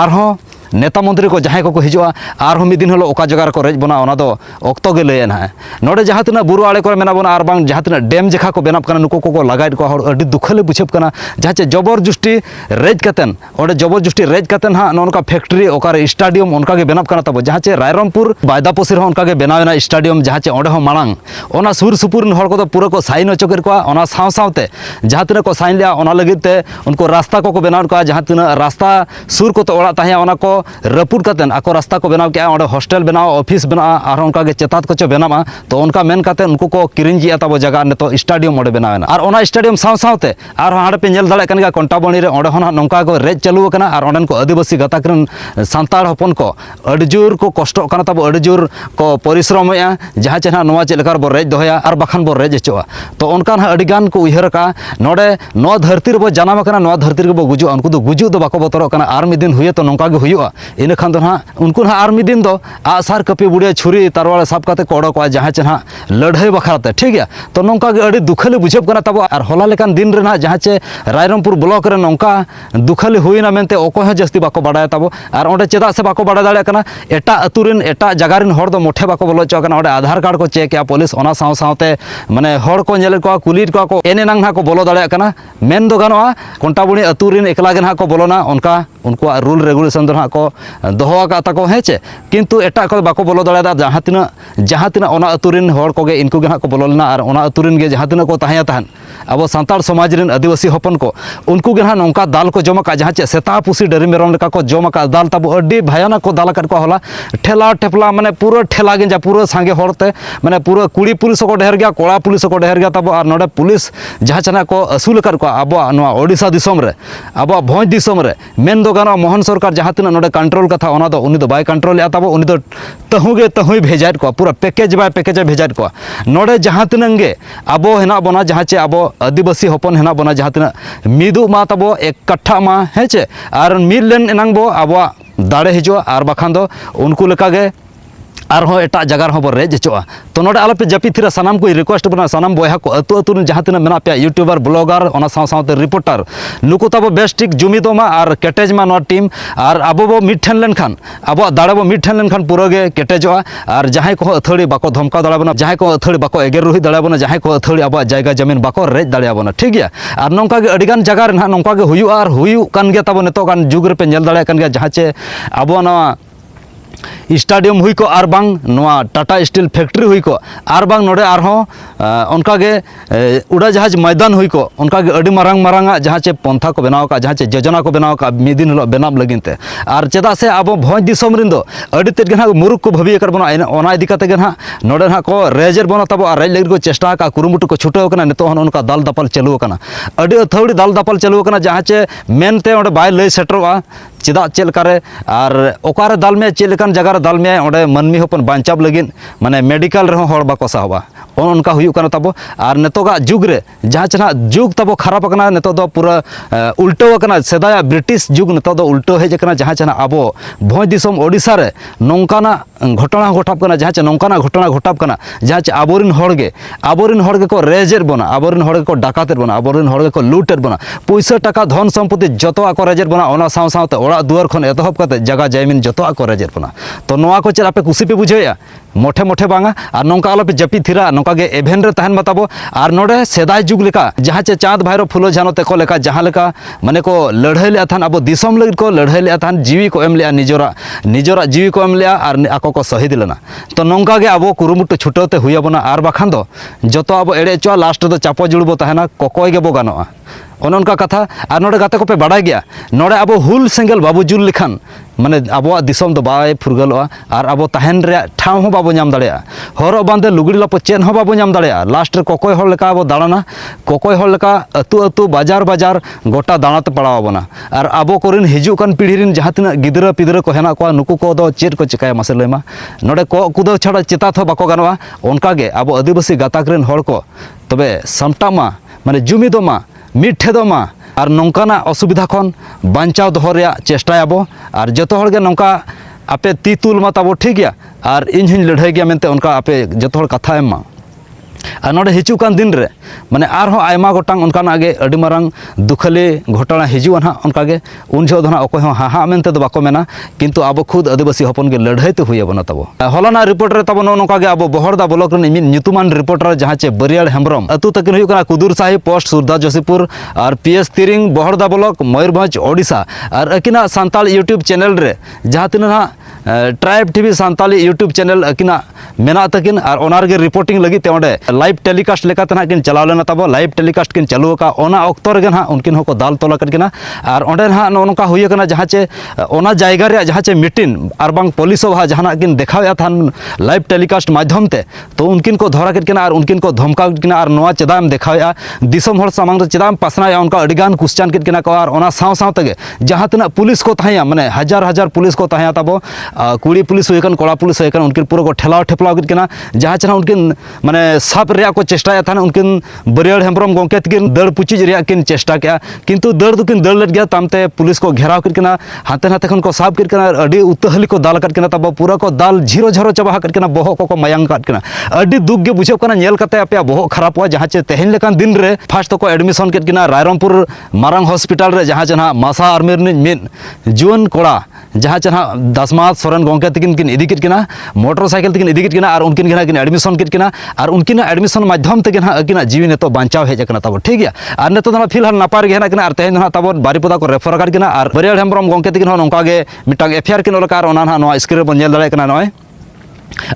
ᱟᱨᱦᱚᱸ ᱱᱮᱛᱟ ᱢᱚᱱᱛᱨᱤ ᱠᱚ ᱡᱟᱦᱟᱸᱭ ᱠᱚᱠᱚ ᱦᱤᱡᱩᱜᱼᱟ ᱟᱨᱦᱚᱸ ᱢᱤᱫ ᱫᱤᱱ ᱦᱤᱞᱳᱜ ᱚᱠᱟ ᱡᱟᱭᱜᱟ ᱨᱮᱠᱚ ᱨᱮᱡ ᱵᱚᱱᱟ ᱚᱱᱟ ᱫᱚ ᱚᱠᱛᱚ ᱜᱮ ᱞᱟᱹᱭᱟ ᱱᱟᱦᱟᱜ ᱱᱚᱰᱮ ᱡᱟᱦᱟᱸ ᱛᱤᱱᱟᱹᱜ ᱵᱩᱨᱩ ᱟᱲᱮ ᱠᱚᱨᱮ ᱢᱮᱱᱟᱜ ᱵᱚᱱᱟ ᱟᱨ ᱵᱟᱝ ᱡᱟᱦᱟᱸ ᱛᱤᱱᱟᱹᱜ ᱰᱮᱢ ᱡᱟᱠᱷᱟ ᱠᱚ ᱵᱮᱱᱟᱜ ᱠᱟᱱᱟ ᱱᱩᱠᱩ ᱠᱚᱠᱚ ᱞᱟᱜᱟᱭᱮᱫ ᱠᱚᱣᱟ ᱦᱚᱲ ᱟᱹᱰᱤ ᱫᱩᱠᱷᱟᱹᱞᱮ ᱵᱩᱡᱷᱟᱹᱜ ᱠᱟᱱᱟ ᱡᱟᱦᱟᱸ ᱪᱮ ᱡᱚᱵᱚᱨ ᱡᱩᱥᱴᱤ ᱨᱮᱡ ᱠᱟᱛᱮᱱ ᱚᱸᱰᱮ ᱡᱚᱵᱚᱨ ᱡᱩᱥᱴᱤ ᱨᱮᱡ ᱠᱟᱛᱮᱱ ᱦᱟᱸᱜ ᱱᱚᱜᱼᱚ ᱱᱚᱝᱠᱟ ᱯᱷᱮᱠᱴᱨᱤ ᱚᱠᱟᱨᱮ ᱥᱴᱟᱰᱤᱭᱟᱢ ᱚᱱᱠᱟ ᱜᱮ ᱵᱮᱱᱟᱜ ᱠᱟᱱᱟ ᱛᱟᱵᱚ ᱡᱟᱦᱟᱸ ᱪᱮ ᱨᱟᱭᱨᱚᱝᱯᱩᱨ ᱵᱟᱭᱫᱟᱯᱚᱥᱤ ᱨᱮᱦᱚᱸ ᱚᱱᱠᱟ ᱜᱮ ᱵᱮᱱᱟᱣ ᱮᱱᱟ ᱥᱴᱟᱰᱤᱭᱟᱢ ᱡᱟᱦᱟᱸ ᱪᱮ ᱚᱸᱰᱮ ᱦᱚᱸ ᱢᱟᱲᱟᱝ ᱚᱱᱟ ᱥᱩᱨ ᱥᱩᱯᱩᱨ ᱨᱮᱱ ᱦᱚᱲ ᱠᱚᱫᱚ ᱯᱩᱨᱟᱹ ᱠᱚ ᱥᱟᱭᱤᱱ ᱦᱚᱪᱚ ᱠᱮᱫ ᱠᱚᱣᱟ ᱚᱱᱟ ᱥᱟᱶ ᱥᱟᱶᱛᱮ ᱡᱟᱦᱟᱸ ᱛᱤᱱᱟᱹᱜ ᱠᱚ ᱥᱟᱭᱤᱱ ᱞᱮᱫᱼᱟ ᱚᱱᱟ ᱞᱟᱹᱜᱤᱫ ᱛᱮ ᱩᱱᱠᱩ ᱨᱟᱥᱛᱟ ᱠᱚᱠᱚ ᱵᱮᱱᱟᱣᱮᱫ ᱠᱚᱣᱟ ᱡᱟᱦᱟᱸ ᱛᱤᱱᱟᱹᱜ ᱨᱟᱥᱛᱟ ᱥᱩᱨ ᱠᱚᱛᱮ ᱚᱲᱟᱜ ᱛᱟᱦᱮᱸ ᱚᱱᱟ ᱠᱚ ᱨᱟᱹᱯᱩᱫ ᱠᱟᱛᱮ ᱟᱠᱚ ᱨᱟᱥᱛᱟ ᱠᱚ ᱵᱮᱱᱟᱣ ᱠᱮᱜᱼᱟ ᱚᱸᱰᱮ ᱦᱳᱥᱴᱮᱞ ᱵᱮᱱᱟᱣ ᱚᱯᱷᱤᱥ ᱵᱮᱱᱟᱜᱼᱟ ᱟᱨᱦᱚᱸ ᱚᱱᱠᱟ ᱜᱮ ᱪᱮᱛᱟᱛ ᱠᱚᱪᱚ ᱵᱮᱱᱟᱜᱼᱟ ᱛᱚ ᱚᱱᱠᱟ ᱢᱮᱱ ᱠᱟᱛᱮ ᱩᱱᱠᱩ ᱠᱚ ᱠᱤᱨᱤᱧ ᱠᱮᱜᱼᱟ ᱛᱟᱵᱚ ᱡᱟᱭᱜᱟ ᱱᱤᱛᱚᱜ ᱥᱴᱟᱰᱤᱭᱟᱢ ᱚᱸᱰᱮ ᱵᱮᱱᱟᱣ ᱮᱱᱟ ᱟᱨ ᱚᱱᱟ ᱥᱴᱟᱰᱤᱭᱟᱢ ᱥᱟᱶ ᱥᱟᱶᱛᱮ ᱟᱨᱦᱚᱸ ᱦᱟᱸᱰᱮ ᱯᱮ ᱧᱮᱞ ᱫᱟᱲᱮᱭᱟᱜ ᱠᱟᱱ ᱜᱮᱭᱟ ᱠᱚᱱᱴᱟᱵᱟᱹᱱᱤ ᱨᱮ ᱚᱸᱰᱮ ᱦᱚᱸ ᱱᱟᱦᱟᱜ ᱱᱚᱝᱠᱟ ᱠᱚ ᱨᱮᱡ ᱪᱟᱹᱞᱩ ᱟᱠᱟᱱᱟ ᱟᱨ ᱚᱸᱰᱮᱱ ᱠᱚ ᱟᱹᱫᱤᱵᱟᱹᱥᱤ ᱜᱟᱛᱟᱠ ᱨᱮᱱ ᱥᱟᱱᱛᱟᱲ ᱦᱚᱯᱚᱱ ᱠᱚ ᱟᱹᱰᱤ ᱡᱳᱨ ᱠᱚ ᱠᱚᱥᱴᱚᱜ ᱠᱟᱱᱟ ᱛᱟᱵᱚ ᱟᱹᱰᱤ ᱡᱳᱨ ᱠᱚ ᱯᱚᱨᱤᱥᱨᱚᱢᱮᱜᱼᱟ ᱡᱟᱦᱟᱸ ᱪᱮ ᱱᱟᱦᱟᱜ ᱱᱚᱣᱟ ᱪᱮᱫ ᱞᱮᱠᱟ ᱨᱮᱵᱚ ᱨᱮᱡ ᱫᱚᱦᱚᱭᱟ ᱟᱨ ᱵᱟᱠᱷᱟᱱ ᱵᱚ ᱨᱮᱡ ᱦᱚᱪᱚᱜᱼᱟ ᱛᱚ ᱚᱱᱠᱟ ᱱᱟᱦᱟᱜ ᱟᱹᱰᱤ ᱜᱟᱱ ᱠᱚ ᱩᱭᱦᱟᱹᱨ ᱟᱠᱟᱜᱼᱟ ᱱᱚᱰᱮ ᱱᱚᱣᱟ ᱫᱷᱟᱹᱨᱛᱤ ᱨᱮᱵᱚ ᱡᱟᱱᱟᱢ ᱟᱠᱟᱱᱟ ᱱᱚᱣᱟ ᱫᱷᱟᱹᱨᱛᱤ ᱨᱮᱜᱮ ᱵᱚ ᱜᱩᱡᱩᱜᱼᱟ ᱩᱱᱠᱩ ᱫᱚ ᱜᱩᱡᱩᱜ ᱫᱚ ᱵᱟᱠᱚ ᱵᱚᱛᱚᱨᱚᱜ ᱠᱟᱱᱟ ᱟᱨ ᱢᱤᱫ ᱫᱤᱱ ᱦᱩᱭᱩᱜᱼᱟ ᱛᱚ ᱱᱚᱝᱠᱟ ᱜᱮ ᱦᱩᱭᱩᱜᱼᱟ ᱤᱱᱟᱹ ᱠᱷᱟᱱ ᱫᱚ ᱱᱟᱦᱟᱜ ᱩᱱᱠᱩ ᱱᱟᱦᱟᱜ ᱟᱨ ᱢᱤᱫ ᱫᱤᱱ ᱫᱚ ᱟᱜᱼᱥᱟᱨ ᱠᱟᱹᱯᱤ ᱵᱩᱰᱤᱭᱟᱹ ᱪᱷᱩᱨᱤ ᱛᱟᱨᱣᱟᱲ ᱥᱟᱵ ᱠᱟᱛᱮ ᱠᱚ ᱚᱰᱚᱠᱚᱜᱼᱟ ᱡᱟᱦᱟᱸ ᱪᱮ ᱱᱟᱦᱟᱜ ᱞᱟᱹᱲᱦᱟᱹᱭ ᱵᱟᱠᱷᱨᱟ ᱛᱮ ᱴᱷᱤᱠ ᱜᱮᱭᱟ ᱛᱚ ᱱᱚᱝᱠᱟ ᱜᱮ ᱟᱹᱰᱤ ᱫᱩᱠᱷᱟᱹᱞᱤ ᱵᱩᱡᱷᱟᱹᱜ ᱠᱟᱱᱟ ᱛᱟᱵᱚ ᱟᱨ ᱦᱚᱞᱟ ᱞᱮᱠᱟᱱ ᱫᱤᱱ ᱨᱮ ᱱᱟᱦᱟᱜ ᱡᱟᱦᱟᱸ ᱪᱮ ᱨᱟᱭᱨᱚᱝᱯᱩᱨ ᱵᱞᱚᱠ ᱨᱮ ᱱᱚᱝᱠᱟ ᱫᱩᱠᱷᱟᱹᱞᱤ ᱦᱩᱭᱱᱟ ᱢᱮᱱᱛᱮ ᱚᱠᱚᱭ ᱦᱚᱸ ᱡᱟᱹᱥᱛᱤ ᱵᱟᱠᱚ ᱵᱟᱰᱟᱭᱟ ᱛᱟᱵᱚ ᱟᱨ ᱚᱸᱰᱮ ᱪᱮᱫᱟᱜ ᱥᱮ ᱵᱟᱠᱚ ᱵᱟᱰᱟᱭ ᱫᱟᱲᱮᱭᱟᱜ ᱠᱟᱱᱟ ᱮᱴᱟᱜ ᱟᱹᱛᱩ ᱨᱮᱱ ᱮᱴᱟᱜ ᱡᱟᱭᱜᱟ ᱨᱮᱱ ᱦᱚᱲ ᱫᱚ ᱢᱚᱴᱷᱮ ᱵᱟᱠᱚ ᱵᱚᱞᱚ ᱦᱚᱪᱚ ᱠᱟᱱᱟ ᱚᱸᱰᱮ ᱟᱫᱷᱟᱨ ᱠᱟᱨᱰ ᱠᱚ ᱪᱮᱠ ᱮᱫᱟ ᱯᱩᱞᱤᱥ ᱚᱱᱟ ᱥᱟᱶ ᱥᱟᱶᱛᱮ ᱢᱟᱱᱮ ᱦᱚᱲ ᱠᱚ ᱧᱮᱞᱮᱫ ᱠᱚᱣᱟ ᱠᱩᱞᱤᱭᱮᱫ ᱠᱚᱣᱟ ᱠᱚ ᱮᱱ ᱮᱱᱟᱝ ᱱᱟᱦᱟᱜ ᱠᱚ ᱵᱚᱞᱚ ᱫᱟᱲᱮᱭᱟᱜ ᱠᱟᱱᱟ ᱢᱮᱱ ᱫᱚ ᱜᱟᱱᱚᱜᱼᱟ ᱠᱚᱱᱴᱟᱵᱩᱲᱤ ᱟᱹᱛᱩ ᱨᱮᱱ ᱮᱠᱞᱟ ᱜᱮ ᱱᱟᱦᱟᱜ ᱠᱚ ᱵᱚᱞᱚᱱᱟ ᱚᱱᱠᱟ ᱩᱱᱠᱩᱣᱟᱜ ᱨᱩᱞ ᱨᱮᱜᱩᱞᱮᱥᱚᱱ ᱫᱚ ᱱᱟᱦᱟᱜ ᱠᱚ ᱫᱚᱦᱚ ᱟᱠᱟᱫ ᱛᱟᱠᱚ ᱦᱮᱸ ᱪᱮ ᱠᱤᱱᱛᱩ ᱮᱴᱟᱜ ᱠᱚᱫᱚ ᱵᱟᱠᱚ ᱵᱚᱞᱚ ᱫᱟᱲᱮᱭᱟᱫᱟ ᱡᱟᱦᱟᱸ ᱛᱤᱱᱟᱹᱜ ᱡᱟᱦᱟᱸ ᱛᱤᱱᱟᱹᱜ ᱚᱱᱟ ᱟᱹᱛᱩ ᱨᱮᱱ ᱦᱚᱲ ᱠᱚᱜᱮ ᱤᱱᱠᱩ ᱜᱮ ᱱᱟᱦᱟᱜ ᱠᱚ ᱵᱚᱞᱚ ᱞᱮᱱᱟ ᱟᱨ ᱚᱱᱟ ᱟᱹᱛᱩ ᱨᱮᱱ ᱜᱮ ᱡᱟᱦᱟᱸ ᱛᱤᱱᱟᱹᱜ ᱠᱚ ᱛᱟᱦᱮᱸᱭᱟ ᱛᱟᱦᱮᱸᱫ ᱟᱵᱚ ᱥᱟᱱᱛᱟᱲ ᱥᱚᱢᱟᱡᱽ ᱨᱮᱱ ᱟᱹᱫᱤᱵᱟᱹᱥᱤ ᱦᱚᱯᱚᱱ ᱠᱚ ᱩᱱᱠᱩ ᱜᱮ ᱱᱟᱦᱟᱜ ᱱᱚᱝᱠᱟ ᱫᱟᱞ ᱠᱚ ᱡᱚᱢ ᱟᱠᱟᱫ ᱡᱟᱦᱟᱸ ᱪᱮᱫ ᱥᱮᱛᱟ ᱯᱩᱥᱤ ᱰᱟᱹᱨᱤ ᱢᱮᱨᱚᱢ ᱞᱮᱠᱟ ᱠᱚ ᱡᱚᱢ ᱟᱠᱟᱫ ᱫᱟᱞ ᱛᱟᱵᱚ ᱟᱹᱰᱤ ᱵᱷᱟᱭᱟᱱᱚᱠ ᱠᱚ ᱫᱟᱞ ᱟᱠᱟᱫ ᱠᱚᱣᱟ ᱦᱚᱞᱟ ᱴᱷᱮᱞᱟᱣ ᱴᱷᱮᱯᱞᱟᱣ ᱢᱟᱱᱮ ᱯᱩᱨᱟᱹ ᱴᱷᱮᱞᱟ ᱜᱮᱸᱡᱟ ᱯᱩᱨᱟᱹ ᱥᱟᱸᱜᱮ ᱦᱚᱲᱛᱮ ᱢᱟᱱᱮ ᱯᱩᱨᱟᱹ ᱠᱩᱲᱤ ᱯᱩᱞᱤᱥ ᱦᱚᱸᱠᱚ ᱰᱷᱮᱨ ᱜᱮᱭᱟ ᱠᱚᱲᱟ ᱯᱩᱞᱤᱥ ᱦᱚᱸᱠᱚ ᱰᱷᱮᱨ ᱜᱮᱭᱟ ᱛᱟᱵᱚ ᱟᱨ ᱱᱚᱰᱮ ᱯᱩᱞᱤᱥ ᱡᱟᱦᱟᱸ ᱪᱮᱱᱟᱜ ᱠᱚ ᱟᱹᱥᱩᱞ ᱟᱠᱟᱫ ᱠᱚᱣᱟ ᱟᱵᱚᱣᱟᱜ ᱱᱚᱣᱟ ᱳᱰᱤᱥᱟ ᱫᱤᱥᱚᱢ ᱨᱮ ᱟᱵᱚᱣᱟᱜ ᱵᱷᱚᱸᱡᱽ ᱫᱤᱥᱚᱢ ᱨᱮ ᱢᱮᱱ ᱫᱚ ᱜᱟᱱᱚᱜᱼᱟ ᱢᱳᱦᱚᱱ ᱥᱚᱨᱠᱟᱨ ᱡᱟᱦᱟᱸ ᱛᱤᱱᱟᱹᱜ ᱱᱚᱰᱮ ᱠᱚᱱᱴᱨᱳᱞ ᱠᱟᱛᱷᱟ ᱚᱱᱟ ᱫᱚ ᱩᱱᱤ ᱫᱚ ᱵᱟᱭ ᱠᱚᱱᱴᱨᱳᱞᱮᱫᱼᱟ ᱛᱟᱵᱚ ᱩᱱᱤ ᱫᱚ ᱛᱟᱹᱦᱩ ᱜᱮ ᱛᱟᱹᱦᱩᱭ ᱵᱷᱮᱡᱟᱭᱮᱫ ᱠᱚᱣᱟ ᱯᱩᱨᱟᱹ ᱯᱮᱠᱮᱡᱽ ᱵᱟᱭ ᱯᱮᱠᱮᱡᱽ ᱵᱷᱮᱡᱟᱭᱮᱫ ᱠᱚᱣᱟ ᱱᱚᱰᱮ ᱡᱟᱦᱟᱸ ᱛᱤᱱᱟᱹᱜ ᱜᱮ ᱟᱵᱚ ᱦᱮᱱᱟᱜ ᱵᱚᱱᱟ ᱡᱟᱦᱟᱸ ᱪᱮ ᱟᱵᱚ ᱟᱹᱫᱤᱵᱟᱹᱥᱤ ᱦᱚᱯᱚᱱ ᱦᱮᱱᱟᱜ ᱵᱚᱱᱟ ᱡᱟᱦᱟᱸ ᱛᱤᱱᱟᱹᱜ ᱢᱤᱫᱚᱜ ᱢᱟ ᱛᱟᱵᱚ ᱮᱠᱟᱴᱷᱟᱜ ᱢᱟ ᱦᱮᱸ ᱪᱮ ᱟᱨ ᱢᱤᱫ ᱞᱮᱱ ᱮᱱᱟᱝ ᱵᱚ ᱟᱵᱚᱣᱟᱜ ᱫᱟᱲᱮ ᱦᱤᱡᱩᱜᱼᱟ ᱟᱨ ᱵᱟᱠᱷᱟᱱ ᱫᱚ ᱩᱱᱠᱩ ᱞᱮᱠᱟᱜᱮ ᱟᱨᱦᱚᱸ ᱮᱴᱟᱜ ᱡᱟᱭᱜᱟ ᱨᱮᱦᱚᱸ ᱵᱚᱱ ᱨᱮᱡ ᱦᱚᱪᱚᱜᱼᱟ ᱛᱚ ᱱᱚᱰᱮ ᱟᱞᱚᱯᱮ ᱡᱟᱹᱯᱤᱫ ᱛᱷᱤᱨᱟ ᱥᱟᱱᱟᱢ ᱠᱚ ᱨᱤᱠᱣᱮᱥᱴ ᱵᱚᱱᱟ ᱥᱟᱱᱟᱢ ᱵᱚᱭᱦᱟ ᱠᱚ ᱟᱹᱛᱩ ᱟᱹᱛᱩ ᱨᱮᱱ ᱡᱟᱦᱟᱸ ᱛᱤᱱᱟᱹᱜ ᱢᱮᱱᱟᱜ ᱯᱮᱭᱟ ᱤᱭᱩᱴᱩᱵᱟᱨ ᱵᱞᱚᱜᱟᱨ ᱚᱱᱟ ᱥᱟᱶ ᱥᱟᱶᱛᱮ ᱨᱤᱯᱳᱨᱴᱟᱨ ᱱᱩᱠᱩ ᱛᱟᱵᱚ ᱵᱮᱥ ᱴᱷᱤᱠ ᱡᱩᱢᱤᱫᱚᱜ ᱢᱟ ᱟᱨ ᱠᱮᱴᱮᱡ ᱢᱟ ᱱᱚᱣᱟ ᱴᱤᱢ ᱟᱨ ᱟᱵᱚ ᱵᱚ ᱢᱤᱫ ᱴᱷᱮᱱ ᱞᱮᱱᱠᱷᱟᱱ ᱟᱵᱚᱣᱟᱜ ᱫᱟᱲᱮ ᱵᱚ ᱢᱤᱫ ᱴᱷᱮᱱ ᱞᱮᱱᱠᱷᱟᱱ ᱯᱩᱨᱟᱹ ᱜᱮ ᱠᱮᱴᱮᱡᱚᱜᱼᱟ ᱟᱨ ᱡᱟᱦᱟᱸᱭ ᱠᱚᱦᱚᱸ ᱟᱹᱛᱷᱟᱹᱲᱤ ᱵᱟᱠᱚ ᱫᱷᱚᱢᱠᱟᱣ ᱫᱟᱲᱮᱭᱟᱵᱚᱱᱟ ᱡᱟᱦᱟᱸᱭ ᱠᱚ ᱟᱹᱛᱷᱟᱹᱲᱤ ᱵᱟᱠᱚ ᱮᱜᱮᱨ ᱨᱩᱦᱤᱫ ᱫᱟᱲᱮᱭᱟᱵᱚᱱᱟ ᱡᱟᱦᱟᱸᱭ ᱠᱚ ᱟᱹᱛᱷᱟᱹᱲᱤ ᱟᱵᱚᱣᱟᱜ ᱡᱟᱭᱜᱟ ᱡᱟᱢᱤᱱ ᱵᱟᱠᱚ ᱨᱮᱡ ᱫᱟᱲᱮᱭᱟᱵᱚᱱᱟ ᱴᱷᱤᱠ ᱜᱮᱭᱟ ᱟᱨ ᱱᱚᱝᱠᱟ ᱜᱮ ᱟᱹᱰᱤᱜᱟᱱ ᱡᱟᱭᱜᱟ ᱨᱮ ᱱᱟᱦᱟᱜ ᱱᱚᱝᱠᱟ ᱜᱮ ᱦᱩᱭᱩᱜᱼᱟ ᱟᱨ ᱦᱩᱭᱩᱜ ᱠᱟᱱ ᱜᱮᱭᱟ ᱛᱟᱵᱚᱱ ᱱᱤᱛᱚᱜ ᱜᱟᱱ ᱡᱩᱜᱽ ᱨᱮᱯᱮ ᱧᱮᱞ ᱫᱟᱲᱮᱭᱟᱜ ᱠᱟᱱ ᱜᱮᱭᱟ ᱡᱟᱦᱟᱸ ᱪᱮ ᱟᱵᱚᱣᱟᱜ ᱱᱚᱣᱟ ᱥᱴᱟᱰᱤᱭᱟᱢ ᱦᱩᱭ ᱠᱚᱜ ᱟᱨ ᱵᱟᱝ ᱱᱚᱣᱟ ᱴᱟᱴᱟ ᱥᱴᱤᱞ ᱯᱷᱮᱠᱴᱨᱤ ᱦᱩᱭ ᱠᱚᱜ ᱟᱨ ᱵᱟᱝ ᱱᱚᱰᱮ ᱟᱨᱦᱚᱸ ᱚᱱᱠᱟᱜᱮ ᱩᱰᱟᱹ ᱡᱟᱦᱟᱡᱽ ᱢᱚᱭᱫᱟᱱ ᱦᱩᱭ ᱠᱚᱜ ᱚᱱᱠᱟᱜᱮ ᱟᱹᱰᱤ ᱢᱟᱨᱟᱝ ᱢᱟᱨᱟᱝ ᱟᱜ ᱡᱟᱦᱟᱸ ᱪᱮ ᱯᱚᱱᱛᱷᱟ ᱠᱚ ᱵᱮᱱᱟᱣ ᱟᱠᱟᱫ ᱡᱟᱦᱟᱸ ᱪᱮ ᱡᱳᱡᱚᱱᱟ ᱠᱚ ᱵᱮᱱᱟᱣ ᱟᱠᱟᱫ ᱢᱤᱫ ᱫᱤᱱ ᱦᱤᱞᱳᱜ ᱵᱮᱱᱟᱣ ᱞᱟᱹᱜᱤᱫ ᱛᱮ ᱟᱨ ᱪᱮᱫᱟᱜ ᱥᱮ ᱟᱵᱚ ᱵᱷᱚᱸᱡᱽ ᱫᱤᱥᱚᱢ ᱨᱮᱱ ᱫᱚ ᱟᱹᱰᱤ ᱛᱮᱫ ᱜᱮ ᱱᱟᱦᱟᱜ ᱢᱩᱨᱩᱠ ᱠᱚ ᱵᱷᱟᱹᱵᱤ ᱟᱠᱟᱫ ᱵᱚᱱᱟ ᱚᱱᱟ ᱤᱫᱤ ᱠᱟᱛᱮ ᱜᱮ ᱱᱟᱦᱟᱜ ᱱᱚᱰᱮ ᱱᱟᱦᱟᱜ ᱠᱚ ᱨᱮᱡᱮᱫ ᱵᱚᱱᱟ ᱛᱟᱵᱚ ᱟᱨ ᱨᱮᱡ ᱞᱟᱹᱜᱤᱫ ᱠᱚ ᱪᱮᱥᱴᱟ ᱟᱠᱟᱫ ᱠᱩᱨᱩᱢᱩᱴᱩ ᱠᱚ ᱪᱷᱩᱴᱟᱹᱣ ᱟᱠᱟᱱᱟ ᱱᱤᱛᱚᱜ ᱦᱚᱸ ᱱᱚᱝᱠᱟ ᱫᱟᱞ ᱫᱟᱯᱟᱞ ᱪᱟᱹᱞᱩ ᱟᱠᱟᱱᱟ ᱟᱹᱰᱤ ᱟᱹᱛᱷᱟᱹᱣᱲᱤ ᱫᱟᱞ ᱫᱟᱯᱟᱞ ᱪᱟᱹᱞᱩ ᱟᱠᱟᱱᱟ ᱡᱟᱦᱟᱸ ᱪᱮ ᱢᱮᱱᱛᱮ ᱚᱸᱰᱮ ᱵᱟᱭ ᱞᱟᱹᱭ ᱥᱮᱴᱮᱨᱚᱜᱼᱟ ᱪᱮᱫᱟᱜ ᱪᱮᱫ ᱞᱮᱠᱟᱨᱮ ᱟᱨ ᱚᱠᱟᱨᱮ ᱫᱟᱞ ᱢᱮᱭᱟ ᱪᱮᱫ ᱞᱮᱠᱟᱱ ᱡᱟᱭᱜᱟ ᱨᱮ ᱫᱟᱞ ᱢᱮᱭᱟᱭ ᱚᱸᱰᱮ ᱢᱟᱹᱱᱢᱤ ᱦᱚᱯᱚᱱ ᱵᱟᱧᱪᱟᱣ ᱞᱟᱹᱜᱤᱫ ᱢᱟᱱᱮ ᱢᱮᱰᱤᱠᱟᱞ ᱨᱮᱦᱚᱸ ᱦᱚᱲ ᱵᱟᱠᱚ ᱥᱟᱦᱚᱵᱼᱟ ᱚᱱ ᱚᱱᱠᱟ ᱦᱩᱭᱩᱜ ᱠᱟᱱᱟ ᱛᱟᱵᱚ ᱟᱨ ᱱᱤᱛᱚᱜᱟᱜ ᱡᱩᱜᱽ ᱨᱮ ᱡᱟᱦᱟᱸ ᱪᱮᱫ ᱦᱟᱸᱜ ᱡᱩᱜᱽ ᱛᱟᱵᱚ ᱠᱷᱟᱨᱟᱯ ᱟᱠᱟᱱᱟ ᱱᱤᱛᱚᱜ ᱫᱚ ᱯᱩᱨᱟᱹ ᱩᱞᱴᱟᱹᱣ ᱟᱠᱟᱱᱟ ᱥᱮᱫᱟᱭᱟᱜ ᱵᱨᱤᱴᱤᱥ ᱡᱩᱜᱽ ᱱᱤᱛᱚᱜ ᱫᱚ ᱩᱞᱴᱟᱹᱣ ᱦᱮᱡ ᱟᱠᱟᱱᱟ ᱡᱟᱦᱟᱸ ᱪᱮᱫ ᱟᱵᱚ ᱵᱷᱚᱸᱡᱽ ᱫᱤᱥᱚᱢ ᱳᱰᱤᱥᱟ ᱨᱮ ᱱᱚᱝᱠᱟᱱᱟᱜ ᱜᱷᱚᱴᱚᱱᱟ ᱦᱚᱸ ᱜᱷᱚᱴᱟᱜ ᱠᱟᱱᱟ ᱡᱟᱦᱟᱸ ᱪᱮᱫ ᱱᱚᱝᱠᱟᱱᱟᱜ ᱜᱷᱚᱴᱚᱱᱟ ᱜᱷᱚᱴᱟᱜ ᱠᱟᱱᱟ ᱡᱟᱦᱟᱸ ᱪᱮᱫ ᱟᱵᱚᱨᱮᱱ ᱦᱚᱲᱜᱮ ᱟᱵᱚᱨᱮᱱ ᱦᱚᱲ ᱜᱮᱠᱚ ᱨᱮᱡᱮᱫ ᱵᱚᱱᱟ ᱟᱵᱚᱨᱮᱱ ᱦᱚᱲ ᱜᱮᱠᱚ ᱰᱟᱠᱟᱛᱮᱫ ᱵᱚᱱᱟ ᱟᱵᱚᱨᱮᱱ ᱦᱚᱲ ᱜᱮᱠᱚ ᱞᱩᱴᱮᱫ ᱵᱚᱱᱟ ᱯᱩᱭᱥᱟᱹ ᱴᱟᱠᱟ ᱫᱷᱚᱱ ᱥᱚᱢᱯᱚᱛᱤ ᱡᱚᱛᱚᱣᱟᱜ ᱠᱚ ᱨᱮᱡᱮᱫ ᱵᱚᱱᱟ ᱚᱱᱟ ᱥᱟᱶ ᱥᱟᱶᱛᱮ ᱚᱲᱟᱜ ᱫᱩᱣᱟᱹᱨ ᱠᱷᱚᱱ ᱮᱛᱚᱦᱚᱵ ᱠᱟᱛᱮ ᱡᱟᱜᱟ ᱡᱟᱭᱢᱤᱱ ᱡᱚᱛᱚᱣᱟᱜ ᱠᱚ ᱨᱮᱡᱮᱫ ᱵᱚᱱᱟ ᱛᱚ ᱱᱚᱣᱟ ᱠᱚ ᱪᱮᱫ ᱟᱯᱮ ᱠᱩᱥᱤ ᱯᱮ ᱵᱩᱡᱷᱟᱹᱣᱮᱫᱼᱟ ᱢᱚᱴᱷᱮ ᱢᱚᱴᱷᱮ ᱵᱟᱝᱟ ᱟᱨ ᱱᱚᱝᱠᱟ ᱟᱞᱚᱯᱮ ᱡᱟᱹᱯᱤᱫ ᱛᱷᱤᱨᱟ ᱱᱚᱝᱠᱟ ᱜᱮ ᱮᱵᱷᱮᱱ ᱨᱮ ᱛᱟᱦᱮᱱ ᱢᱟ ᱛᱟᱵᱚ ᱟᱨ ᱱᱚᱰᱮ ᱥᱮᱫᱟᱭ ᱡᱩᱜᱽ ᱞᱮᱠᱟ ᱡᱟᱦᱟᱸ ᱪᱮ ᱪᱟᱸᱫᱽ ᱵᱷᱟᱭᱨᱚ ᱯᱷᱩᱞᱳ ᱡᱷᱟᱱᱚ ᱛᱮᱠᱚ ᱞᱮᱠᱟ ᱡᱟᱦᱟᱸ ᱞᱮᱠᱟ ᱢᱟᱱᱮ ᱠᱚ ᱞᱟᱹᱲᱦᱟᱹᱭ ᱞᱮᱫᱼᱟ ᱛᱟᱦᱮᱱ ᱟᱵᱚ ᱫᱤᱥᱚᱢ ᱞᱟᱹᱜᱤᱫ ᱠᱚ ᱞᱟᱹᱲᱦᱟᱹᱭ ᱞᱮᱫᱼᱟ ᱛᱟᱦᱮᱱ ᱡᱤᱣᱤ ᱠᱚ ᱮᱢ ᱞᱮᱫᱼᱟ ᱱᱤᱡᱚᱨᱟᱜ ᱱᱤᱡᱚᱨᱟᱜ ᱡᱤᱣᱤ ᱠᱚ ᱮᱢ ᱞᱮᱫᱼᱟ ᱟᱨ ᱟᱠᱚ ᱠᱚ ᱥᱟᱹᱦᱤᱫ ᱞᱮᱱᱟ ᱛᱚ ᱱᱚᱝᱠᱟ ᱜᱮ ᱟᱵᱚ ᱠᱩᱨᱩᱢᱩᱴᱩ ᱪᱷᱩᱴᱟᱹᱣ ᱛᱮ ᱦᱩᱭ ᱟᱵᱚᱱᱟ ᱟᱨ ᱵᱟᱠᱷᱟᱱ ᱫᱚ ᱡᱚᱛᱚ ᱟᱵᱚ ᱮᱲᱮ ᱦᱚᱪᱚᱜᱼᱟ ᱞᱟᱥᱴ ᱨᱮᱫᱚ ᱪᱟᱯᱚ ᱡᱩᱲᱩ ᱵᱚ ᱛᱟᱦᱮᱱᱟ ᱠᱚᱠᱚᱭ ᱜᱮᱵᱚ ᱜᱟᱱᱚᱜᱼᱟ ᱚᱱᱮ ᱚᱱᱠᱟ ᱠᱟᱛᱷᱟ ᱟᱨ ᱱᱚᱰᱮ ᱜᱟᱛᱮ ᱠᱚᱯᱮ ᱵᱟᱰᱟᱭ ᱜᱮᱭᱟ ᱱᱚᱰᱮ ᱟᱵᱚ ᱦᱩᱞ ᱥᱮᱸᱜᱮᱞ ᱵᱟᱵᱚ ᱡᱩᱞ ᱞᱮᱠᱷᱟᱱ ᱢᱟᱱᱮ ᱟᱵᱚᱣᱟᱜ ᱫᱤᱥᱚᱢ ᱫᱚ ᱵᱟᱭ ᱯᱷᱩᱨᱜᱟᱹᱞᱚᱜᱼᱟ ᱟᱨ ᱟᱵᱚ ᱛᱟᱦᱮᱱ ᱨᱮᱭᱟᱜ ᱴᱷᱟᱶ ᱦᱚᱸ ᱵᱟᱵᱚ ᱧᱟᱢ ᱫᱟᱲᱮᱭᱟᱜᱼᱟ ᱦᱚᱨᱚᱜ ᱵᱟᱸᱫᱮ ᱞᱩᱜᱽᱲᱤ ᱞᱟᱯᱚ ᱪᱮᱫ ᱦᱚᱸ ᱵᱟᱵᱚ ᱧᱟᱢ ᱫᱟᱲᱮᱭᱟᱜᱼᱟ ᱞᱟᱥᱴ ᱨᱮ ᱠᱚᱠᱚᱭ ᱦᱚᱲ ᱞᱮᱠᱟ ᱵᱚ ᱫᱟᱬᱟᱱᱟ ᱠᱚᱠᱚᱭ ᱦᱚᱲ ᱞᱮᱠᱟ ᱟᱹᱛᱩ ᱟᱹᱛᱩ ᱵᱟᱡᱟᱨ ᱵᱟᱡᱟᱨ ᱜᱚᱴᱟ ᱫᱟᱬᱟᱛᱮ ᱯᱟᱲᱟᱣ ᱟᱵᱚᱱᱟ ᱟᱨ ᱟᱵᱚ ᱠᱚᱨᱮᱱ ᱦᱤᱡᱩᱜ ᱠᱟᱱ ᱯᱤᱲᱦᱤ ᱨᱮᱱ ᱡᱟᱦᱟᱸ ᱛᱤᱱᱟᱹᱜ ᱜᱤᱫᱽᱨᱟᱹ ᱯᱤᱫᱽᱨᱟᱹ ᱠᱚ ᱦᱮᱱᱟᱜ ᱠᱚᱣᱟ ᱱᱩᱠᱩ ᱠᱚᱫᱚ ᱪᱮᱫ ᱠᱚ ᱪᱤᱠᱟᱹᱭᱟ ᱢᱟᱥᱮ ᱞᱟᱹᱭ ᱢᱟ ᱱᱚᱰᱮ ᱠᱚᱜ ᱠᱩᱫᱟᱹᱣ ᱪᱷᱟᱲᱟ ᱪᱮᱛᱟ ᱛᱮᱦᱚᱸ ᱵᱟᱠᱚ ᱜᱟᱱᱚᱜᱼᱟ ᱚᱱᱠᱟᱜᱮ ᱟᱵᱚ ᱟᱹᱫᱤᱵᱟᱹᱥᱤ ᱜᱟᱛᱟᱠ ᱨᱮᱱ ᱦᱚᱲ ᱠᱚ ᱛᱚᱵᱮ ᱥᱟᱢᱴᱟᱜ ᱢᱟ ᱢᱟᱱᱮ ᱡᱩᱢᱤᱫᱚᱜ ᱢᱟ ᱢᱤᱫ ᱴᱷᱮᱫᱚᱜ ᱢᱟ ᱟᱨ ᱱᱚᱝᱠᱟᱱᱟᱜ ᱚᱥᱩᱵᱤᱫᱷᱟ ᱠᱷᱚᱱ ᱵᱟᱧᱪᱟᱣ ᱫᱚᱦᱚ ᱨᱮᱭᱟᱜ ᱪᱮᱥᱴᱟᱭᱟᱵᱚ ᱟᱨ ᱡᱚᱛᱚ ᱦᱚᱲᱜᱮ ᱱᱚᱝᱠᱟ ᱟᱯᱮ ᱛᱤ ᱛᱩᱞ ᱢᱟ ᱛᱟᱵᱚ ᱴᱷᱤᱠ ᱜᱮᱭᱟ ᱟᱨ ᱤᱧ ᱦᱚᱧ ᱞᱟᱹᱲᱦᱟᱹᱭ ᱜᱮᱭᱟ ᱢᱮᱱᱛᱮ ᱚᱱᱠᱟ ᱟᱯᱮ ᱡᱚᱛᱚ ᱦᱚᱲ ᱠᱟᱛᱷᱟ ᱮᱢ ᱢᱟ ᱟᱨ ᱱᱚᱰᱮ ᱦᱤᱡᱩᱜ ᱠᱟᱱ ᱫᱤᱱ ᱨᱮ ᱢᱟᱱᱮ ᱟᱨᱦᱚᱸ ᱟᱭᱢᱟ ᱜᱚᱴᱟᱝ ᱚᱱᱠᱟᱱᱟᱜ ᱜᱮ ᱟᱹᱰᱤ ᱢᱟᱨᱟᱝ ᱫᱩᱠᱷᱟᱹᱞᱤ ᱜᱷᱚᱴᱚᱱᱟ ᱦᱤᱡᱩᱜᱼᱟ ᱱᱟᱦᱟᱜ ᱚᱱᱠᱟᱜᱮ ᱩᱱ ᱡᱚᱦᱚᱜ ᱫᱚ ᱱᱟᱦᱟᱜ ᱚᱠᱚᱭ ᱦᱚᱸ ᱦᱟᱦᱟᱜ ᱢᱮᱱᱛᱮ ᱫᱚ ᱵᱟᱠᱚ ᱢᱮᱱᱟ ᱠᱤᱱᱛᱩ ᱟᱵᱚ ᱠᱷᱩᱫ ᱟᱹᱫᱤᱵᱟᱹᱥᱤ ᱦᱚᱯᱚᱱ ᱜᱮ ᱞᱟᱹᱲᱦᱟᱹᱭ ᱛᱮ ᱦᱩᱭ ᱟᱵᱚᱱᱟ ᱛᱟᱵᱚ ᱦᱚᱞᱟᱱᱟᱜ ᱨᱤᱯᱳᱨᱴ ᱨᱮ ᱛᱟᱵᱚ ᱱᱚᱜᱼᱚ ᱱᱚᱝᱠᱟ ᱜᱮ ᱟᱵᱚ ᱵᱚᱦᱚᱲᱫᱟ ᱵᱞᱚᱠ ᱨᱤᱱᱤᱡ ᱢᱤᱫ ᱧᱩᱛᱩᱢᱟᱱ ᱨᱤᱯᱳᱨᱴᱟᱨ ᱡᱟᱦᱟᱸ ᱪᱮ ᱵᱟᱹᱨᱤᱭᱟᱲ ᱦᱮᱢᱵᱨᱚᱢ ᱟᱹᱛᱩ ᱛᱟᱹᱠᱤᱱ ᱦᱩᱭᱩᱜ ᱠᱟᱱᱟ ᱠᱩᱫᱩᱨ ᱥᱟᱦᱤ ᱯᱳᱥᱴ ᱥᱩᱨᱫᱟ ᱡᱚᱥᱤᱯᱩᱨ ᱟᱨ P S ᱛᱤᱨᱤᱝ ᱵᱚᱦᱚᱲᱫᱟ block Mayurbhanj Odisha ᱟᱨ ᱟᱹᱠᱤᱱᱟᱜ ᱥᱟᱱᱛᱟᱲ ᱤᱭᱩᱴᱩᱵᱽ ᱪᱮᱱᱮᱞ ᱨᱮ ᱡᱟᱦᱟᱸ ᱛᱤᱱᱟᱹᱜ ᱱᱟᱦᱟᱜ tribe TV Santali YouTube channel ᱟᱹᱠᱤᱱᱟᱜ ᱢᱮᱱᱟᱜ ᱛᱟᱹᱠᱤᱱ ᱟᱨ ᱚᱱᱟ ᱨᱮᱜᱮ ᱨᱤᱯᱳᱨᱴᱤᱝ ᱞᱟᱹᱜᱤᱫ ᱛᱮ ᱚᱸᱰᱮ ᱞᱟᱭᱤᱵᱷ ᱴᱮᱞᱤᱠᱟᱥᱴ ᱞᱮᱠᱟᱛᱮ ᱱᱟᱜ ᱠᱤᱱ ᱪᱟᱞᱟᱣ ᱞᱮᱱᱟ ᱛᱟᱵᱚ ᱞᱟᱭᱤᱵᱷ ᱴᱮᱞᱤᱠᱟᱥᱴ ᱠᱤᱱ ᱪᱟᱹᱞᱩ ᱟᱠᱟᱫ ᱚᱱᱟ ᱚᱠᱛᱚ ᱨᱮᱜᱮ ᱱᱟᱜ ᱩᱱᱠᱤᱱ ᱦᱚᱸᱠᱚ ᱫᱟᱞ ᱛᱚᱞ ᱟᱠᱟᱫ ᱠᱤᱱᱟ ᱟᱨ ᱚᱸᱰᱮ ᱱᱟᱜ ᱱᱚᱜᱼᱚ ᱱᱚᱝᱠᱟ ᱦᱩᱭ ᱟᱠᱟᱱᱟ ᱡᱟᱦᱟᱸ ᱪᱮ ᱚᱱᱟ ᱡᱟᱭᱜᱟ ᱨᱮᱭᱟᱜ ᱡᱟᱦᱟᱸ ᱪᱮ ᱢᱤᱴᱤᱱ ᱟᱨ ᱵᱟᱝ ᱯᱚᱞᱤᱥ ᱥᱚᱵᱷᱟ ᱡᱟᱦᱟᱱᱟᱜ ᱠᱤᱱ ᱫᱮᱠᱷᱟᱣᱮᱫᱼᱟ ᱛᱟᱦᱮᱱ ᱞᱟᱭᱤᱵᱷ ᱴᱮᱞᱤᱠᱟᱥᱴ ᱢᱟᱫᱽᱫᱷᱚᱢ ᱛᱮ ᱛᱚ ᱩᱱᱠᱤᱱ ᱠᱚ ᱫᱷᱚᱨᱟ ᱠᱮᱫ ᱠᱤᱱᱟ ᱟᱨ ᱩᱱᱠᱤᱱ ᱠᱚ ᱫᱷᱚᱢᱠᱟᱣ ᱠᱮᱫ ᱠᱤᱱᱟ ᱟᱨ ᱱᱚᱣᱟ ᱪᱮᱫᱟᱜ ᱮᱢ ᱫᱮᱠᱷᱟᱣᱮᱫᱼᱟ ᱫᱤᱥᱚᱢ ᱦᱚᱲ ᱥᱟᱢᱟᱝ ᱨᱮ ᱪᱮᱫᱟᱜ ᱮᱢ ᱯᱟᱥᱱᱟᱣᱮᱫᱼᱟ ᱚᱱᱠᱟ ᱟᱹᱰᱤᱜᱟᱱ ᱠᱚᱥᱪᱟᱱ ᱠᱮᱫ ᱠᱤᱱᱟ ᱠᱚ ᱟᱨ ᱚᱱᱟ ᱥᱟᱶ ᱥᱟᱶ ᱛᱮᱜᱮ ᱡᱟᱦᱟᱸ ᱛᱤᱱᱟᱹᱜ ᱯᱩᱞᱤᱥ ᱠᱚ ᱛᱟᱦᱮᱸᱭᱟ ᱢᱟᱱᱮ ᱦᱟᱡᱟᱨ ᱦᱟᱡᱟᱨ ᱯᱩᱞᱤᱥ ᱠᱚ ᱛᱟᱦᱮᱸᱭᱟ ᱛᱟᱵᱚ ᱠᱩᱲᱤ ᱯᱩᱞᱤᱥ ᱦᱩᱭ ᱟᱠᱟᱱ ᱠᱚᱲᱟ ᱯᱩᱞᱤᱥ ᱦᱩᱭ ᱟᱠᱟᱱ ᱩᱱᱠᱤᱱ ᱯᱩᱨᱟᱹ ᱠᱚ ᱴᱷᱮᱞᱟᱣ ᱴᱷᱮᱯᱞᱟᱣ ᱠᱮᱫ ᱠᱤᱱᱟ ᱡᱟᱦᱟᱸ ᱪᱮᱦᱨᱟ ᱩᱱᱠᱤᱱ ᱢᱟᱱᱮ ᱥᱟᱵ ᱨᱮᱭᱟᱜ ᱠᱚ ᱪᱮᱥᱴᱟᱭᱮᱫ ᱛᱟᱦᱮᱱ ᱩᱱᱠᱤᱱ ᱵᱟᱹᱨᱭᱟᱹᱲ ᱦᱮᱢᱵᱨᱚᱢ ᱜᱚᱢᱠᱮ ᱛᱤᱠᱤᱱ ᱫᱟᱹᱲ ᱯᱩᱪᱩᱡ ᱨᱮᱭᱟᱜ ᱠᱤᱱ ᱪᱮᱥᱴᱟ ᱠᱮᱜᱼᱟ ᱠᱤᱱᱛᱩ ᱫᱟᱹᱲ ᱫᱚᱠᱤᱱ ᱫᱟᱹᱲ ᱞᱮᱫ ᱜᱮᱭᱟ ᱛᱟᱭᱚᱢᱛᱮ ᱯᱩᱞᱤᱥ ᱠᱚ ᱜᱷᱮᱨᱟᱣ ᱠᱮᱫ ᱠᱤᱱᱟ ᱦᱟᱱᱛᱮ ᱱᱟᱛᱮ ᱠᱷᱚᱱ ᱠᱚ ᱥᱟᱵ ᱠᱮᱫ ᱠᱤᱱᱟ ᱟᱹᱰᱤ ᱩᱛᱟᱹᱦᱟᱹᱞᱤ ᱠᱚ ᱫᱟᱞ ᱟᱠᱟᱫ ᱠᱤᱱᱟ ᱛᱟᱵᱚ ᱯᱩᱨᱟᱹ ᱠᱚ ᱫᱟᱞ ᱡᱷᱤᱨᱚ ᱡᱷᱚᱨᱚ ᱪᱟᱵᱟ ᱟᱠᱟᱫ ᱠᱤᱱᱟ ᱵᱚᱦᱚᱜ ᱠᱚᱠᱚ ᱢᱟᱭᱟᱝ ᱟᱠᱟᱫ ᱠᱤᱱᱟ ᱟᱹᱰᱤ ᱫᱩᱠ ᱜᱮ ᱵᱩᱡᱷᱟᱹᱜ ᱠᱟᱱᱟ ᱧᱮᱞ ᱠᱟᱛᱮ ᱟᱯᱮᱭᱟᱜ ᱵᱚᱦᱚᱜ ᱠᱷᱟᱨᱟᱯᱚᱜᱼᱟ ᱡᱟᱦᱟᱸ ᱪᱮ ᱛᱮᱦᱮᱧ ᱞᱮᱠᱟᱱ ᱫᱤᱱ ᱨᱮ ᱯᱷᱟᱥᱴ ᱫᱚᱠᱚ ᱮᱰᱢᱤᱥᱚᱱ ᱠᱮᱫ ᱠᱤᱱᱟ ᱨᱟᱭᱨᱚᱝᱯᱩᱨ ᱢᱟᱨᱟᱝ ᱦᱚᱥᱯᱤᱴᱟᱞ ᱨᱮ ᱡᱟᱦᱟᱸ ᱪᱮ ᱱᱟᱦᱟᱜ ᱢᱟᱥᱟ ᱟᱨᱢᱤ ᱨᱤᱱᱤᱡ ᱢᱤᱫ ᱡᱩᱣᱟᱹᱱ ᱠᱚᱲᱟ ᱡᱟᱦᱟᱸ ᱪᱮ ᱱᱟᱦᱟᱜ ᱫᱟᱥᱢᱟᱛ ᱥᱚᱨᱮᱱ ᱜᱚᱢᱠᱮ ᱛᱤᱠᱤᱱ ᱠᱤᱱ ᱤᱫᱤ ᱠᱮᱫ ᱠᱤᱱᱟ ᱢᱚᱴᱚᱨ ᱥᱟᱭᱠᱮᱞ ᱛᱮᱠᱤᱱ ᱤᱫᱤ ᱠᱮᱫ ᱠᱤᱱᱟ ᱟᱨ ᱩᱱᱠᱤᱱ ᱜᱮ ᱱᱟᱦᱟᱜ ᱠᱤᱱ ᱮᱰᱢᱤᱥᱚᱱ ᱠᱮᱫ ᱠᱤᱱᱟ ᱟᱨ ᱩᱱᱠᱤᱱᱟᱜ ᱮᱰᱢᱤᱥᱚᱱ ᱢᱟᱫᱽᱫᱷᱚᱢ ᱛᱮᱜᱮ ᱱᱟᱦᱟᱜ ᱟᱹᱠᱤᱱᱟᱜ ᱡᱤᱣᱤ ᱱᱤᱛᱚᱜ ᱵᱟᱧᱪᱟᱣ ᱦᱮᱡ ᱟᱠᱟᱱᱟ ᱛᱟᱵᱚ ᱴᱷᱤᱠ ᱜᱮᱭᱟ ᱟᱨ ᱱᱤᱛᱚᱜ ᱫᱚ ᱱᱟᱦᱟᱜ ᱯᱷᱤᱞᱦᱟᱞ ᱱᱟᱯᱟᱭ ᱨᱮᱜᱮ ᱦᱮᱱᱟᱜ ᱠᱤᱱᱟ ᱟᱨ ᱛᱮᱦᱮᱧ ᱱᱟᱦᱟᱜ ᱛᱟᱵᱚ ᱵᱟᱨᱤᱯᱚᱫᱟ ᱠᱚ ᱨᱮᱯᱷᱟᱨ ᱟᱠᱟᱫ ᱠᱤᱱᱟ ᱟᱨ ᱵᱟᱹᱨᱭᱟᱹᱲ ᱦᱮᱢᱵᱨᱚᱢ ᱜᱚᱢᱠᱮ ᱛᱤᱠᱤᱱ ᱦᱚᱸ ᱱᱚᱝᱠᱟ ᱜᱮ ᱢᱤᱫᱴᱟᱝ ᱮᱯᱷ ᱟᱭ ᱟᱨ ᱠᱤᱱ ᱚᱞ ᱟᱠᱟᱫᱼᱟ ᱟᱨ ᱚᱱᱟ ᱱᱟᱦᱟᱜ ᱱᱚᱣᱟ ᱥᱠᱨᱤᱱ ᱨᱮᱵᱚᱱ ᱧᱮᱞ ᱫᱟᱲᱮᱭᱟᱜ ᱠᱟᱱᱟ ᱱᱚᱜᱼᱚᱭ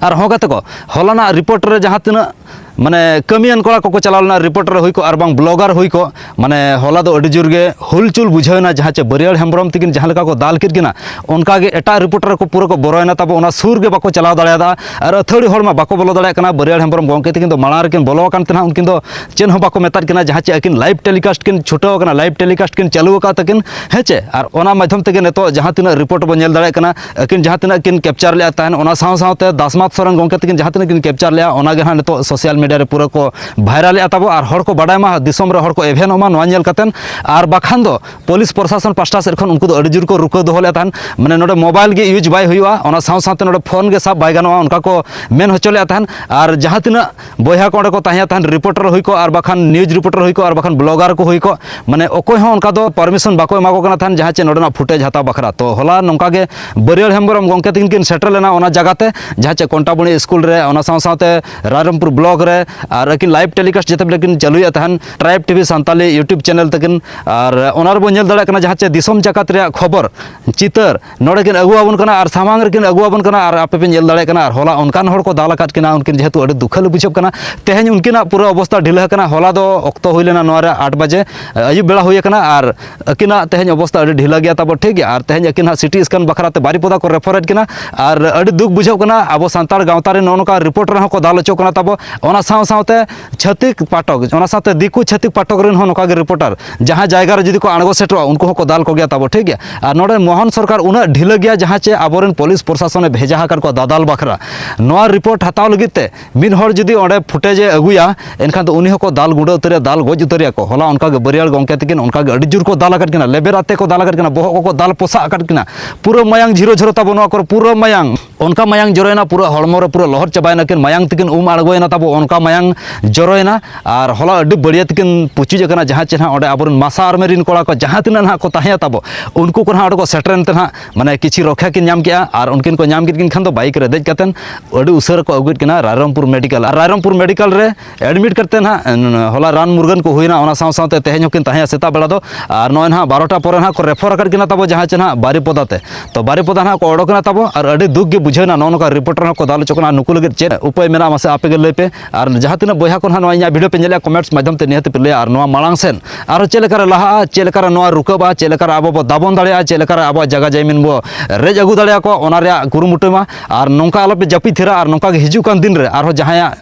ᱟᱨ ᱦᱚᱸ ᱜᱟᱛᱮ ᱠᱚ ᱦᱚᱞᱟᱱᱟᱜ ᱨᱤᱯᱳᱨᱴ ᱨᱮ ᱡᱟᱦᱟᱸ ᱛᱤᱱᱟᱹᱜ ᱢᱟᱱᱮ ᱠᱟᱹᱢᱤᱭᱟᱱ ᱠᱚᱲᱟ ᱠᱚᱠᱚ ᱪᱟᱞᱟᱣ ᱞᱮᱱᱟ ᱨᱤᱯᱳᱨᱴ ᱨᱮ ᱦᱩᱭ ᱠᱚᱜ ᱟᱨ ᱵᱟᱝ ᱵᱞᱚᱜᱟᱨ ᱦᱩᱭ ᱠᱚᱜ ᱢᱟᱱᱮ ᱦᱚᱞᱟ ᱫᱚ ᱟᱹᱰᱤ ᱡᱳᱨ ᱜᱮ ᱦᱩᱞᱪᱩᱞ ᱵᱩᱡᱷᱟᱹᱣᱱᱟ ᱡᱟᱦᱟᱸ ᱪᱮ ᱵᱟᱹᱨᱭᱟᱹᱲ ᱦᱮᱢᱵᱨᱚᱢ ᱛᱤᱠᱤᱱ ᱡᱟᱦᱟᱸ ᱞᱮᱠᱟ ᱠᱚ ᱫᱟᱞ ᱠᱮᱫ ᱠᱤᱱᱟ ᱚᱱᱠᱟ ᱜᱮ ᱮᱴᱟᱜ ᱨᱤᱯᱳᱨᱴ ᱨᱮ ᱠᱚ ᱯᱩᱨᱟᱹ ᱠᱚ ᱵᱚᱨᱚᱭᱮᱱᱟ ᱛᱟᱵᱚ ᱚᱱᱟ ᱥᱩᱨ ᱜᱮ ᱵᱟᱠᱚ ᱪᱟᱞᱟᱣ ᱫᱟᱲᱮᱭᱟᱫᱟ ᱟᱨ ᱟᱹᱛᱷᱟᱹᱲᱤ ᱦᱚᱲ ᱢᱟ ᱵᱟᱠᱚ ᱵᱚᱞᱚ ᱫᱟᱲᱮᱭᱟᱜ ᱠᱟᱱᱟ ᱵᱟᱹᱨᱭᱟᱹᱲ ᱦᱮᱢᱵᱨᱚᱢ ᱜᱚᱢᱠᱮ ᱛᱤᱠᱤᱱ ᱫᱚ ᱢᱟᱲᱟᱝ ᱨᱮᱠᱤᱱ ᱵᱚᱞᱚ ᱟᱠᱟᱱ ᱛᱟᱦᱮᱱᱟ ᱩᱱᱠᱤᱱ ᱫᱚ ᱪᱮᱫ ᱦᱚᱸ ᱵᱟᱠᱚ ᱢᱮᱛᱟᱫ ᱠᱤᱱᱟ ᱡᱟᱦᱟᱸ ᱪᱮ ᱟᱹᱠᱤᱱ ᱞᱟᱭᱤᱵᱷ ᱴᱮᱞᱤᱠᱟᱥᱴ ᱠᱤᱱ ᱪᱷᱩᱴᱟᱹᱣ ᱟᱠᱟᱱᱟ ᱞᱟᱭᱤᱵᱷ ᱴᱮᱞᱤᱠᱟᱥᱴ ᱠᱤᱱ ᱪᱟᱹᱞᱩ ᱟᱠᱟᱫ ᱛᱟᱹᱠᱤᱱ ᱦᱮᱸ ᱪᱮ ᱟᱨ ᱚᱱᱟ ᱢᱟᱫᱽᱫᱷᱚᱢ ᱛᱮᱜᱮ ᱱᱤᱛᱚᱜ ᱡᱟᱦᱟᱸ ᱛᱤᱱᱟᱹᱜ ᱨᱤᱯᱳᱨᱴ ᱵᱚᱱ ᱧᱮᱞ ᱫᱟᱲᱮᱭᱟᱜ ᱠᱟᱱᱟ ᱟᱹᱠᱤᱱ ᱡᱟᱦᱟᱸ ᱛᱤᱱᱟᱹᱜ ᱠᱤᱱ ᱠᱮᱯᱪᱟᱨ ᱞᱮᱫᱼᱟ ᱛᱟᱦᱮᱱ ᱚᱱᱟ ᱥᱟᱶ ᱥᱟᱶᱛᱮ ᱫᱟᱥᱢᱟᱛ ᱥᱚᱨᱮᱱ ᱜᱚᱢᱠᱮ ᱛᱟᱹᱠᱤᱱ ᱡᱟᱦᱟᱸ ᱛᱤᱱᱟᱹᱜ ᱠᱤᱱ ᱠᱮᱯᱪᱟᱨ ᱞᱮᱫᱼᱟ ᱚᱱᱟᱜᱮ ᱦᱟᱸᱜ ᱱᱤᱛᱚᱜ ᱥᱳᱥᱟᱞ ᱢᱤᱰᱤᱭᱟ ᱨᱮ ᱯᱩᱨᱟᱹ ᱠᱚ ᱵᱷᱟᱭᱨᱟᱞᱮᱫᱼᱟ ᱛᱟᱵᱚ ᱟᱨ ᱦᱚᱲ ᱠᱚ ᱵᱟᱰᱟᱭ ᱢᱟ ᱫᱤᱥᱚᱢ ᱨᱮ ᱦᱚᱲ ᱠᱚ ᱮᱵᱷᱮᱱᱚᱜ ᱢᱟ ᱱᱚᱣᱟ ᱧᱮᱞ ᱠᱟᱛᱮᱱ ᱟᱨ ᱵᱟᱠᱷᱟᱱ ᱫᱚ ᱯᱩᱞᱤᱥ ᱯᱨᱚᱥᱟᱥᱚᱱ ᱯᱟᱥᱴᱟ ᱥᱮᱫ ᱠᱷᱚᱱ ᱩᱱᱠᱩ ᱫᱚ ᱟᱹᱰᱤ ᱡᱳᱨ ᱠᱚ ᱨᱩᱠᱟᱹ ᱫᱚᱦᱚ ᱞᱮᱫ ᱛᱟᱦᱮᱱ ᱢᱟᱱᱮ ᱱᱚᱰᱮ ᱢᱳᱵᱟᱭᱤᱞ ᱜᱮ ᱤᱭᱩᱡᱽ ᱵᱟᱭ ᱦᱩᱭᱩᱜᱼᱟ ᱚᱱᱟ ᱥᱟᱶ ᱥᱟᱶᱛᱮ ᱱᱚᱰᱮ ᱯᱷᱳᱱ ᱜᱮ ᱥᱟᱵ ᱵᱟᱭ ᱜᱟᱱᱚᱜᱼᱟ ᱚᱱᱠᱟ ᱠᱚ ᱢᱮᱱ ᱦᱚᱪᱚ ᱞᱮᱫ ᱛᱟᱦᱮᱱ ᱟᱨ ᱡᱟᱦᱟᱸ ᱛᱤᱱᱟᱹᱜ ᱵᱚᱭᱦᱟ ᱠᱚ ᱚᱸᱰᱮ ᱠᱚ ᱛᱟᱦᱮᱸ ᱛᱟᱦᱮᱸ ᱨᱤᱯᱳᱨᱴᱟᱨ ᱦᱩᱭ ᱠᱚᱜ ᱟᱨ ᱵᱟᱠᱷᱟᱱ ᱱᱤᱭᱩᱡᱽ ᱨᱤᱯᱳᱨᱴᱟᱨ ᱦᱩᱭ ᱠᱚᱜ ᱟᱨ ᱵᱟᱠᱷᱟᱱ ᱵᱞᱚᱜᱟᱨ ᱠᱚ ᱦᱩᱭ ᱠᱚᱜ ᱢᱟᱱᱮ ᱚᱠᱚᱭ ᱦᱚᱸ ᱚᱱᱠᱟ ᱫᱚ ᱯᱟᱨᱢᱤᱥᱚᱱ ᱵᱟᱠᱚ ᱮᱢᱟ ᱠᱚ ᱠᱟᱱᱟ ᱛᱟᱦᱮᱸᱫ ᱡᱟᱦᱟᱸ ᱪᱮ ᱱᱚᱰᱮᱱᱟᱜ ᱯᱷᱩᱴᱮᱡᱽ ᱦᱟᱛᱟᱣ ᱵᱟᱠᱷᱨᱟ ᱛᱚ ᱦᱚᱞᱟ ᱱᱚᱝᱠᱟ ᱜᱮ ᱵᱟᱹᱨᱭᱟᱹᱲ ᱦᱮᱢᱵᱨᱚᱢ ᱜᱚᱢᱠᱮ ᱛᱟᱹᱠᱤᱱ ᱠᱤᱱ ᱥᱮᱴᱮᱨ ᱞᱮᱱᱟ ᱚᱱᱟ ᱡᱟᱭᱜᱟ ᱛᱮ ᱡᱟᱦᱟᱸ ᱪᱮ ᱠᱚᱱᱴᱟᱵᱚᱱᱤ ᱥᱠᱩᱞ ᱨᱮ ᱚᱱᱟ ᱥᱟᱶ ᱥᱟᱶᱛᱮ ᱨᱟᱭᱨᱚᱝᱯᱩᱨ ᱵᱞᱚᱜ ᱨᱮ ᱟᱨ ᱟᱹᱠᱤᱱ ᱞᱟᱭᱤᱵᱷ ᱴᱮᱞᱤᱠᱟᱥᱴ ᱡᱮᱛᱮ ᱵᱮᱞᱮ ᱠᱤᱱ ᱪᱟᱹᱞᱩᱭᱮᱫ ᱛᱟᱦᱮᱸᱫ tribe TV Santali YouTube channel ᱛᱟᱹᱠᱤᱱ ᱟᱨ ᱚᱱᱟ ᱨᱮᱵᱚᱱ ᱧᱮᱞ ᱫᱟᱲᱮᱭᱟᱜ ᱠᱟᱱᱟ ᱡᱟᱦᱟᱸ ᱪᱮ ᱫᱤᱥᱚᱢ ᱡᱟᱠᱟᱛ ᱨᱮᱭᱟᱜ ᱠᱷᱚᱵᱚᱨ ᱪᱤᱛᱟᱹᱨ ᱱᱚᱰᱮ ᱠᱤᱱ ᱟᱹᱜᱩ ᱟᱵᱚᱱ ᱠᱟᱱᱟ ᱟᱨ ᱥᱟᱢᱟᱝ ᱨᱮᱠᱤᱱ ᱟᱹᱜᱩ ᱟᱵᱚᱱ ᱠᱟᱱᱟ ᱟᱨ ᱟᱯᱮ ᱯᱮ ᱧᱮᱞ ᱫᱟᱲᱮᱭᱟᱜ ᱠᱟᱱᱟ ᱟᱨ ᱦᱚᱞᱟ ᱚᱱᱠᱟᱱ ᱦᱚᱲ ᱠᱚ ᱫᱟᱞ ᱟᱠᱟᱫ ᱠᱤᱱᱟ ᱩᱱᱠᱤᱱ ᱡᱮᱦᱮᱛᱩ ᱟᱹᱰᱤ ᱫᱩᱠᱷᱟᱹᱞᱮ ᱵᱩᱡᱷᱟᱹᱜ ᱠᱟᱱᱟ ᱛᱮᱦᱮᱧ ᱩᱱᱠᱤᱱᱟᱜ ᱯᱩᱨᱟᱹ ᱚᱵᱚᱥᱛᱟ ᱰᱷᱤᱞᱟᱹ ᱟᱠᱟᱱᱟ ᱦᱚᱞᱟ ᱫᱚ ᱚᱠᱛᱚ ᱦᱩᱭ ᱞᱮᱱᱟ ᱱᱚᱣᱟ ᱨᱮ ᱟᱴ ᱵᱟᱡᱮ ᱟᱹᱭᱩᱵ ᱵᱮᱲᱟ ᱦᱩᱭ ᱟᱠᱟᱱᱟ ᱟᱨ ᱟᱹᱠᱤᱱᱟᱜ ᱛᱮᱦᱮᱧ ᱚᱵᱚᱥᱛᱟ ᱟᱹᱰᱤ ᱰᱷᱤᱞᱟᱹ ᱜᱮᱭᱟ ᱛᱟᱵᱚ ᱴᱷᱤᱠ ᱜᱮᱭᱟ ᱟᱨ ᱛᱮᱦᱮᱧ ᱟᱹᱠᱤᱱ ᱦᱟᱸᱜ ᱥᱤᱴᱤ ᱥᱠᱮᱱ ᱵᱟᱠᱷᱨᱟ ᱛᱮ ᱵᱟᱨᱤᱯᱚᱫᱟ ᱠᱚ ᱨᱮᱯᱷᱟᱨᱮᱫ ᱠᱤᱱᱟ ᱟᱨ ᱟᱹᱰᱤ ᱫᱩᱠ ᱵᱩᱡᱷᱟᱹᱜ ᱠᱟᱱᱟ ᱟᱵᱚ ᱥᱟᱱᱛᱟᱲ ᱜᱟᱶᱛᱟ ᱨᱮ ᱱᱚᱜᱼᱚ ᱱᱚᱝᱠᱟ ᱨᱤᱯᱳᱨᱴ ᱨᱮᱦᱚᱸ ᱠᱚ ᱫᱟᱞ ᱦᱚᱪᱚ ᱠᱟᱱᱟ ᱛᱟᱵᱚ ᱚᱱᱟ ᱥᱟᱶ ᱥᱟᱶᱛᱮ ᱪᱷᱟᱹᱛᱤᱠ ᱯᱟᱴᱚᱠ ᱚᱱᱟ ᱥᱟᱶᱛᱮ ᱫᱤᱠᱩ ᱪᱷᱟᱹᱛᱤᱠ ᱯᱟᱴᱚᱠ ᱨᱮᱱ ᱦᱚᱸ ᱱᱚᱝᱠᱟ ᱜᱮ ᱨᱤᱯᱳᱴᱟᱨ ᱡᱟᱦᱟᱸ ᱡᱟᱭᱜᱟ ᱨᱮ ᱡᱩᱫᱤ ᱠᱚ ᱟᱬᱜᱚ ᱥᱮᱴᱮᱨᱚᱜᱼᱟ ᱩᱱᱠᱩ ᱦᱚᱸᱠᱚ ᱫᱟᱞ ᱠᱚᱜᱮᱭᱟ ᱛᱟᱵᱚ ᱴᱷᱤᱠ ᱜᱮᱭᱟ ᱟᱨ ᱱᱚᱰᱮ ᱢᱳᱦᱚᱱ ᱥᱚᱨᱠᱟᱨ ᱩᱱᱟᱹᱜ ᱰᱷᱤᱞᱟᱹ ᱜᱮᱭᱟ ᱡᱟᱦᱟᱸ ᱪᱮ ᱟᱵᱚᱨᱮᱱ ᱯᱩᱞᱤᱥ ᱯᱨᱚᱥᱟᱥᱚᱱᱮ ᱵᱷᱮᱡᱟ ᱟᱠᱟᱫ ᱠᱚᱣᱟ ᱫᱟᱫᱟᱞ ᱵᱟᱠᱷᱨᱟ ᱱᱚᱣᱟ ᱨᱤᱯᱳᱨᱴ ᱦᱟᱛᱟᱣ ᱞᱟᱹᱜᱤᱫ ᱛᱮ ᱢᱤᱫ ᱦᱚᱲ ᱡᱩᱫᱤ ᱚᱸᱰᱮ ᱯᱷᱩᱴᱮᱡᱮ ᱟᱹᱜᱩᱭᱟ ᱮᱱᱠᱷᱟᱱ ᱫᱚ ᱩᱱᱤ ᱦᱚᱸᱠᱚ ᱫᱟᱞ ᱜᱩᱸᱰᱟᱹ ᱩᱛᱟᱹᱨᱮᱭᱟ ᱫᱟᱞ ᱜᱚᱡ ᱩᱛᱟᱹᱨᱮᱭᱟ ᱠᱚ ᱦᱚᱞᱟ ᱚᱱᱠᱟ ᱜᱮ ᱵᱟᱹᱨᱤᱭᱟᱹᱲ ᱜᱚᱢᱠᱮ ᱛᱤᱠᱤᱱ ᱚᱱᱠᱟ ᱜᱮ ᱟᱹᱰᱤ ᱡᱳᱨ ᱠᱚ ᱫᱟᱞ ᱟᱠᱟᱫ ᱠᱤᱱᱟ ᱞᱮᱵᱮᱨ ᱟᱛᱮ ᱠᱚ ᱫᱟᱞ ᱟᱠᱟᱫ ᱠᱤᱱᱟ ᱵᱚᱦᱚᱜ ᱠᱚᱠᱚ ᱫᱟᱞ ᱯᱚᱥᱟᱜ ᱟᱠᱟᱫ ᱠᱤᱱᱟ ᱯᱩᱨᱟᱹ ᱢᱟᱭᱟᱝ ᱡᱷᱤᱨᱚ ᱡᱷᱤᱨᱚ ᱛᱟᱵᱚ ᱱᱚᱣᱟ ᱠᱚᱨᱮ ᱯᱩᱨᱟᱹ ᱢᱟᱭᱟᱝ ᱚᱱᱠᱟ ᱢᱟᱭᱟᱝ ᱡᱚᱨᱚᱭᱮᱱᱟ ᱯᱩᱨᱟᱹ ᱦᱚᱲᱢᱚ ᱨᱮ ᱯᱩᱨᱟᱹ ᱞᱚᱦᱚᱫ ᱪᱟᱵᱟᱭᱮᱱᱟ ᱠᱤᱱ ᱢᱟᱭᱟᱝ ᱛᱮᱠᱤᱱ ᱩᱢ ᱟᱬᱜᱚᱭᱮᱱᱟ ᱛᱟᱵᱚ ᱚᱱᱠᱟ ᱢᱟᱭᱟᱝ ᱡᱚᱨᱚᱭᱮᱱᱟ ᱟᱨ ᱦᱚᱞᱟ ᱟᱹᱰᱤ ᱵᱟᱹᱲᱤᱭᱟᱹ ᱛᱮᱠᱤᱱ ᱯᱩᱪᱩᱡ ᱟᱠᱟᱱᱟ ᱡᱟᱦᱟᱸ ᱪᱮ ᱱᱟᱦᱟᱜ ᱚᱸᱰᱮ ᱟᱵᱚᱨᱮᱱ ᱢᱟᱥᱟ ᱟᱨᱢᱤ ᱨᱤᱱ ᱠᱚᱲᱟ ᱠᱚ ᱡᱟᱦᱟᱸ ᱛᱤᱱᱟᱹᱜ ᱱᱟᱦᱟᱜ ᱠᱚ ᱛᱟᱦᱮᱸᱭᱟ ᱛᱟᱵᱚ ᱩᱱᱠᱩ ᱠᱚ ᱱᱟᱦᱟᱜ ᱚᱸᱰᱮ ᱠᱚ ᱥᱮᱴᱮᱨᱮᱱ ᱛᱮ ᱱᱟᱦᱟᱜ ᱢᱟᱱᱮ ᱠᱤᱪᱷᱤ ᱨᱚᱠᱷᱟ ᱠᱤᱱ ᱧᱟᱢ ᱠᱮᱜᱼᱟ ᱟᱨ ᱩᱱᱠᱤᱱ ᱠᱚ ᱧᱟᱢ ᱠᱮᱫ ᱠᱤᱱ ᱠᱷᱟᱱ ᱫᱚ ᱵᱟᱭᱤᱠ ᱨᱮ ᱫᱮᱡ ᱠᱟᱛᱮᱫ ᱟᱹᱰᱤ ᱩᱥᱟᱹᱨᱟ ᱠᱚ ᱟᱹᱜᱩᱭᱮᱫ ᱠᱤᱱᱟ ᱨᱟᱭᱨᱚᱝᱯᱩᱨ ᱢᱮᱰᱤᱠᱮᱞ ᱟᱨ ᱨᱟᱭᱨᱚᱝᱯᱩᱨ ᱢᱮᱰᱤᱠᱮᱞ ᱨᱮ ᱮᱰᱢᱤᱴ ᱠᱟᱛᱮ ᱱᱟᱦᱟᱜ ᱦᱚᱞᱟ ᱨᱟᱱ ᱢᱩᱨᱜᱟᱹᱱ ᱠᱚ ᱦᱩᱭᱱᱟ ᱚᱱᱟ ᱥᱟᱶ ᱥᱟᱶᱛᱮ ᱛᱮᱦᱮᱧ ᱦᱚᱸᱠᱤᱱ ᱛᱟᱦᱮᱸ ᱥᱮᱛᱟᱜ ᱵᱮᱲᱟ ᱫᱚ ᱟᱨ ᱱᱚᱜᱼᱚᱭ ᱱᱟᱦᱟᱜ ᱵᱟᱨᱚᱴᱟ ᱯᱚᱨᱮ ᱱᱟᱦᱟᱜ ᱠᱚ ᱨᱮᱯᱷᱚᱨ ᱟᱠᱟᱫ ᱠᱤᱱᱟ ᱛᱟᱵᱚ ᱡᱟᱦᱟᱸ ᱪᱮ ᱱᱟᱦᱟᱜ ᱵᱟᱨᱤᱯᱚᱫᱟ ᱛᱮ ᱛᱚ ᱵᱟᱨᱤᱯᱚᱫᱟ ᱱᱟᱦᱟᱜ ᱠᱚ ᱚᱰᱚᱠ ᱮᱱᱟ ᱛᱟᱵᱚ ᱟᱨ ᱟᱹᱰᱤ ᱫᱩᱠ ᱜᱮ ᱵᱩᱡᱷᱟᱹᱣᱱᱟ ᱱᱚᱜᱼᱚ ᱱᱚᱝᱠᱟ ᱨᱤᱯᱳᱨᱴᱟᱨ ᱦᱚᱸᱠᱚ ᱫᱟᱞ ᱦᱚᱪᱚ ᱠᱟᱱᱟ ᱱᱩᱠᱩ ᱞᱟᱹᱜᱤᱫ ᱪᱮᱫ ᱩᱯᱟᱹᱭ ᱢᱮᱱᱟᱜᱼᱟ ᱢᱟᱥᱮ ᱟᱯᱮ ᱜᱮ ᱞᱟᱹᱭ ᱯᱮ ᱟᱨ ᱡᱟᱦᱟᱸ ᱛᱤᱱᱟᱹᱜ ᱵᱚᱭᱦᱟ ᱠᱚ ᱱᱟᱦᱟᱜ ᱱᱚᱣᱟ ᱤᱧᱟᱹᱜ ᱵᱷᱤᱰᱤᱭᱳ ᱯᱮ ᱧᱮᱞᱮᱫᱼᱟ ᱠᱚᱢᱮᱱᱴᱥ ᱢᱟᱫᱽᱫᱷᱚᱢ ᱛᱮ ᱱᱤᱦᱟᱹᱛ ᱯᱮ ᱞᱟᱹᱭᱟ ᱟᱨ ᱱᱚᱣᱟ ᱢᱟᱲᱟᱝ ᱥᱮᱫ ᱟᱨᱦᱚᱸ ᱪᱮᱫ ᱞᱮᱠᱟᱨᱮ ᱞᱟᱦᱟᱜᱼᱟ ᱪᱮᱫ ᱞᱮᱠᱟᱨᱮ ᱱᱚᱣᱟ ᱨᱩᱠᱟᱹᱵᱟ ᱪᱮᱫ ᱞᱮᱠᱟᱨᱮ ᱟᱵᱚ ᱵᱚ ᱫᱟᱵᱚᱱ ᱫᱟᱲᱮᱭᱟᱜᱼᱟ ᱪᱮᱫ ᱞᱮᱠᱟᱨᱮ ᱟᱵᱚᱣᱟᱜ ᱡᱟᱭᱜᱟ ᱡᱟᱭᱢᱤᱱ ᱵᱚ ᱨᱮᱡ ᱟᱹᱜᱩ ᱫᱟᱲᱮᱭᱟᱠᱚᱣᱟ ᱚᱱᱟ ᱨᱮᱭᱟᱜ ᱠᱩᱨᱩᱢᱩᱴᱩᱭ ᱢᱟ ᱟᱨ ᱱᱚᱝᱠᱟ ᱟᱞᱚᱯᱮ ᱡᱟᱹᱯᱤᱫ ᱛᱷᱤᱨᱟ ᱟᱨ ᱱᱚᱝᱠᱟ ᱜᱮ ᱦᱤᱡᱩᱜ ᱠᱟᱱ ᱫᱤᱱ ᱨᱮ ᱟᱨᱦᱚᱸ ᱡᱟᱦᱟᱸᱭᱟᱜ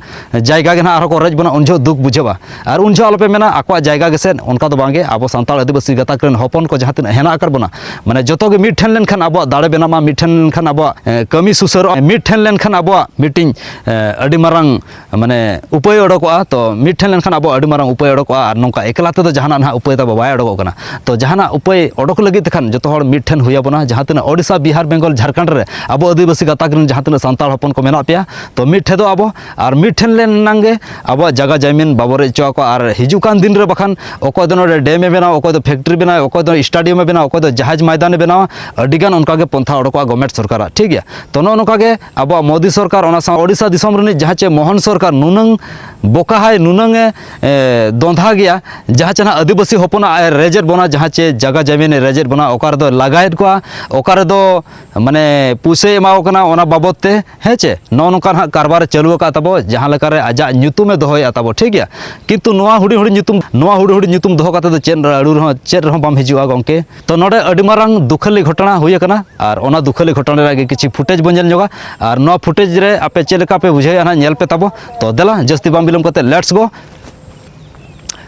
ᱡᱟᱭᱜᱟ ᱜᱮ ᱱᱟᱦᱟᱜ ᱟᱨᱦᱚᱸ ᱠᱚ ᱨᱮᱡ ᱵᱚᱱᱟ ᱩᱱ ᱡᱚᱦᱚᱜ ᱫᱩᱠ ᱵᱩᱡᱷᱟᱹᱜᱼᱟ ᱟᱨ ᱩᱱ ᱡᱚᱦᱚᱜ ᱟᱞᱚᱯᱮ ᱢᱮᱱᱟ ᱟᱠᱚᱣᱟᱜ ᱡᱟᱭᱜᱟ ᱜᱮᱥᱮᱫ ᱚᱱᱠᱟ ᱫᱚ ᱵᱟᱝᱜᱮ ᱟᱵᱚ ᱥᱟᱱᱛᱟᱲ ᱟᱹᱫᱤᱵᱟᱹᱥᱤ ᱜᱟᱛᱟᱠ ᱨᱮᱱ ᱦᱚᱯᱚᱱ ᱠᱚ ᱡᱟᱦᱟᱸ ᱛᱤᱱᱟᱹᱜ ᱦᱮᱱᱟᱜ ᱟᱠᱟᱫ ᱵᱚᱱᱟ ᱢᱟᱱᱮ ᱡᱚᱛᱚ ᱜᱮ ᱢᱤᱫ ᱴᱷᱮᱱ ᱞᱮᱱᱠᱷᱟᱱ ᱟᱵᱚᱣᱟᱜ ᱫᱟᱲᱮ ᱵᱮᱱᱟᱜᱼᱟ ᱢᱤᱫ ᱴᱷᱮᱱ ᱞᱮᱱᱠᱷᱟᱱ ᱟᱵᱚᱣᱟᱜ ᱠᱟᱹᱢᱤ ᱥᱩᱥᱟᱹᱨᱚᱜᱼᱟ ᱢᱤᱫ ᱴᱷᱮᱱ ᱞᱮᱱᱠᱷᱟᱱ ᱟᱵᱚᱣᱟᱜ ᱢᱤᱫᱴᱤᱱ ᱟᱹᱰᱤ ᱢᱟᱨᱟᱝ ᱢᱟᱱᱮ ᱩᱯᱟᱹᱭ ᱚᱰᱚᱠᱚᱜᱼᱟ ᱛᱚ ᱢᱤᱫ ᱴᱷᱮᱱ ᱞᱮᱱᱠᱷᱟᱱ ᱟᱵᱚᱣᱟᱜ ᱟᱹᱰᱤ ᱢᱟᱨᱟᱝ ᱩᱯᱟᱹᱭ ᱚᱰᱚᱠᱚᱜᱼᱟ ᱟᱨ ᱱᱚᱝᱠᱟ ᱮᱠᱞᱟ ᱛᱮᱫᱚ ᱡᱟᱦᱟᱱᱟᱜ ᱱᱟᱦᱟᱜ ᱩᱯᱟᱹᱭ ᱛᱟᱵᱚ ᱵᱟᱭ ᱚᱰᱚᱠᱚᱜ ᱠᱟᱱᱟ ᱛᱚ ᱡᱟᱦᱟᱱᱟᱜ ᱩᱯᱟᱹᱭ ᱚᱰᱚᱠ ᱞᱟᱹᱜᱤᱫ ᱛᱮᱠᱷᱟᱱ ᱡᱚᱛᱚ ᱦᱚᱲ ᱢᱤᱫ ᱴᱷᱮᱱ ᱦᱩᱭ ᱟᱵᱚᱱᱟ ᱡᱟᱦᱟᱸ ᱛᱤᱱᱟᱹᱜ ᱳᱰᱤᱥᱟ ᱵᱤᱦᱟᱨ ᱵᱮᱝᱜᱚᱞ ᱡᱷᱟᱲᱠᱷᱚᱸᱰ ᱨᱮ ᱟᱵᱚ ᱟᱹᱫᱤᱵᱟᱹᱥᱤ ᱜᱟᱛᱟᱠ ᱨᱮᱱ ᱡᱟᱦᱟᱸ ᱛᱤᱱᱟᱹᱜ ᱥᱟᱱᱛᱟᱲ ᱦᱚᱯᱚᱱ ᱠᱚ ᱢᱮᱱᱟᱜ ᱯᱮᱭᱟ ᱛᱚ ᱢᱤᱫ ᱴᱷᱮᱱ ᱫᱚ ᱟᱵᱚ ᱟᱨ ᱢᱤᱫ ᱴᱷᱮᱱ ᱞᱮᱱ ᱮᱱᱟᱝ ᱜᱮ ᱟᱵᱚᱣᱟᱜ ᱡᱟᱭᱜᱟ ᱡᱟᱭᱢᱤᱱ ᱵᱟᱵᱚ ᱨᱮᱡ ᱦᱚᱪᱚ ᱟᱠᱚᱣᱟ ᱟᱨ ᱦᱤᱡᱩᱜ ᱠᱟᱱ ᱫᱤᱱ ᱨᱮ ᱵᱟᱠᱷᱟᱱ ᱚᱠᱚᱭ ᱫᱚ ᱱᱚᱰᱮ ᱰᱮᱢ ᱮ ᱵᱮᱱᱟᱣᱟ ᱚᱠᱚᱭ ᱫᱚ ᱯᱷᱮᱠᱴᱨᱤ ᱵᱮᱱᱟᱣᱟ ᱚᱠᱚᱭ ᱫᱚ ᱥᱴᱟᱰᱤᱭᱟᱢ ᱮ ᱵᱮᱱᱟᱣᱟ ᱚᱠᱚᱭ ᱫᱚ ᱡᱟᱦᱟᱡᱽ ᱢᱚᱭᱫᱟᱱ ᱮ ᱵᱮᱱᱟᱣᱟ ᱟᱹᱰᱤ ᱜᱟᱱ ᱚᱱᱠᱟ ᱜᱮ ᱯᱚᱱᱛᱷᱟ ᱚᱰᱚᱠᱚᱜᱼᱟ ᱜᱚᱵᱷᱢᱮᱱᱴ ᱥᱚᱨᱠᱟᱨᱟᱜ ᱴᱷᱤᱠ ᱜᱮᱭᱟ ᱛᱚ ᱱᱚᱜᱼᱚ ᱱᱚᱝᱠᱟ ᱜᱮ ᱟᱵᱚᱣᱟᱜ ᱢᱳᱫᱤ ᱥᱚᱨᱠᱟᱨ ᱚᱱᱟ ᱥᱟᱶ ᱳᱰᱤᱥᱟ ᱫᱤᱥᱚᱢ ᱨᱤᱱᱤᱡ ᱡᱟᱦᱟᱸ ᱪᱮ ᱢᱳᱦᱚᱱ ᱥᱚᱨᱠᱟᱨ ᱱᱩᱱᱟᱹᱝ ᱵᱚᱠᱟ ᱦᱟᱭ ᱱᱩᱱᱟᱹᱝ ᱮ ᱫᱚᱸᱫᱷᱟ ᱜᱮᱭᱟ ᱡᱟᱦᱟᱸ ᱪᱮ ᱱᱟᱦᱟᱜ ᱟᱹᱫᱤᱵᱟᱹᱥᱤ ᱦᱚᱯᱚᱱᱟᱜ ᱟᱭ ᱨᱮᱡᱮᱫ ᱵᱚᱱᱟ ᱡᱟᱦᱟᱸ ᱪᱮ ᱡᱟᱭᱜᱟ ᱡᱟᱭᱢᱤᱱ ᱮ ᱨᱮᱡᱮᱫ ᱵᱚᱱᱟ ᱚᱠᱟ ᱨᱮᱫᱚ ᱞᱟᱜᱟᱭᱮᱫ ᱠᱚᱣᱟ ᱚᱠᱟ ᱨᱮᱫᱚ ᱢᱟᱱᱮ ᱯᱩᱭᱥᱟᱹᱭ ᱮᱢᱟᱣ ᱠᱚ ᱠᱟᱱᱟ ᱚᱱᱟ ᱵᱟᱵᱚᱫ ᱛᱮ ᱦᱮᱸ ᱪᱮ ᱱᱚᱜᱼᱚ ᱱᱚᱝᱠᱟ ᱱᱟᱦᱟᱜ ᱠᱟᱨᱵᱟᱨᱮ ᱪᱟᱹᱞᱩ ᱟᱠᱟᱫ ᱛᱟᱵᱚ ᱡᱟᱦᱟᱸ ᱞᱮᱠᱟᱨᱮ ᱟᱡᱟᱜ ᱧᱩᱛᱩᱢᱮ ᱫᱚᱦᱚᱭᱮᱫᱼᱟ ᱛᱟᱵᱚ ᱴᱷᱤᱠ ᱜᱮᱭᱟ ᱠᱤᱱᱛᱩ ᱱᱚᱣᱟ ᱦᱩᱰᱤᱧ ᱦᱩᱰᱤᱧ ᱧᱩᱛᱩᱢ ᱱᱚᱣᱟ ᱦᱩᱰᱤᱧ ᱦᱩᱰᱤᱧ ᱧᱩᱛᱩᱢ ᱫᱚᱦᱚ ᱠᱟᱛᱮ ᱫᱚ ᱪᱮᱫ ᱟᱹᱲᱩ ᱨᱮᱦᱚᱸ ᱪᱮᱫ ᱨᱮᱦᱚᱸ ᱵᱟᱢ ᱦᱤᱡᱩᱜᱼᱟ ᱜᱚᱢᱠᱮ ᱛᱚ ᱱᱚᱰᱮ ᱟᱹᱰᱤ ᱢᱟᱨᱟᱝ ᱫᱩᱠᱷᱟᱹᱞᱤ ᱜᱷᱚᱴᱚᱱᱟ ᱦᱩᱭ ᱟᱠᱟᱱᱟ ᱟᱨ ᱚᱱᱟ ᱫᱩᱠᱷᱟᱹᱞᱤ ᱜᱷᱚᱴᱚᱱᱟ ᱨᱮᱭᱟᱜ ᱜᱮ ᱠᱤᱪᱷᱩ ᱯᱷᱩᱴᱮᱡᱽ ᱵᱚᱱ ᱧᱮᱞ ᱧᱚᱜᱟ ᱟᱨ ᱱᱚᱣᱟ ᱯᱷᱩᱴᱮᱡᱽ ᱨᱮ ᱟᱯᱮ ᱪᱮᱫ ᱞᱮᱠᱟ ᱯᱮ ᱵᱩᱡᱷᱟᱹᱣᱮᱫᱼᱟ ᱱᱟᱦᱟᱜ ᱧᱮᱞ ᱯᱮ ᱛᱟᱵᱚ ᱛᱚ ᱫᱮᱞᱟ ᱡᱟᱹᱥᱛᱤ ᱵᱟᱝ ᱵᱤᱞᱚᱢ ᱠᱟᱛᱮ ᱞᱮᱴᱥ ᱜᱳ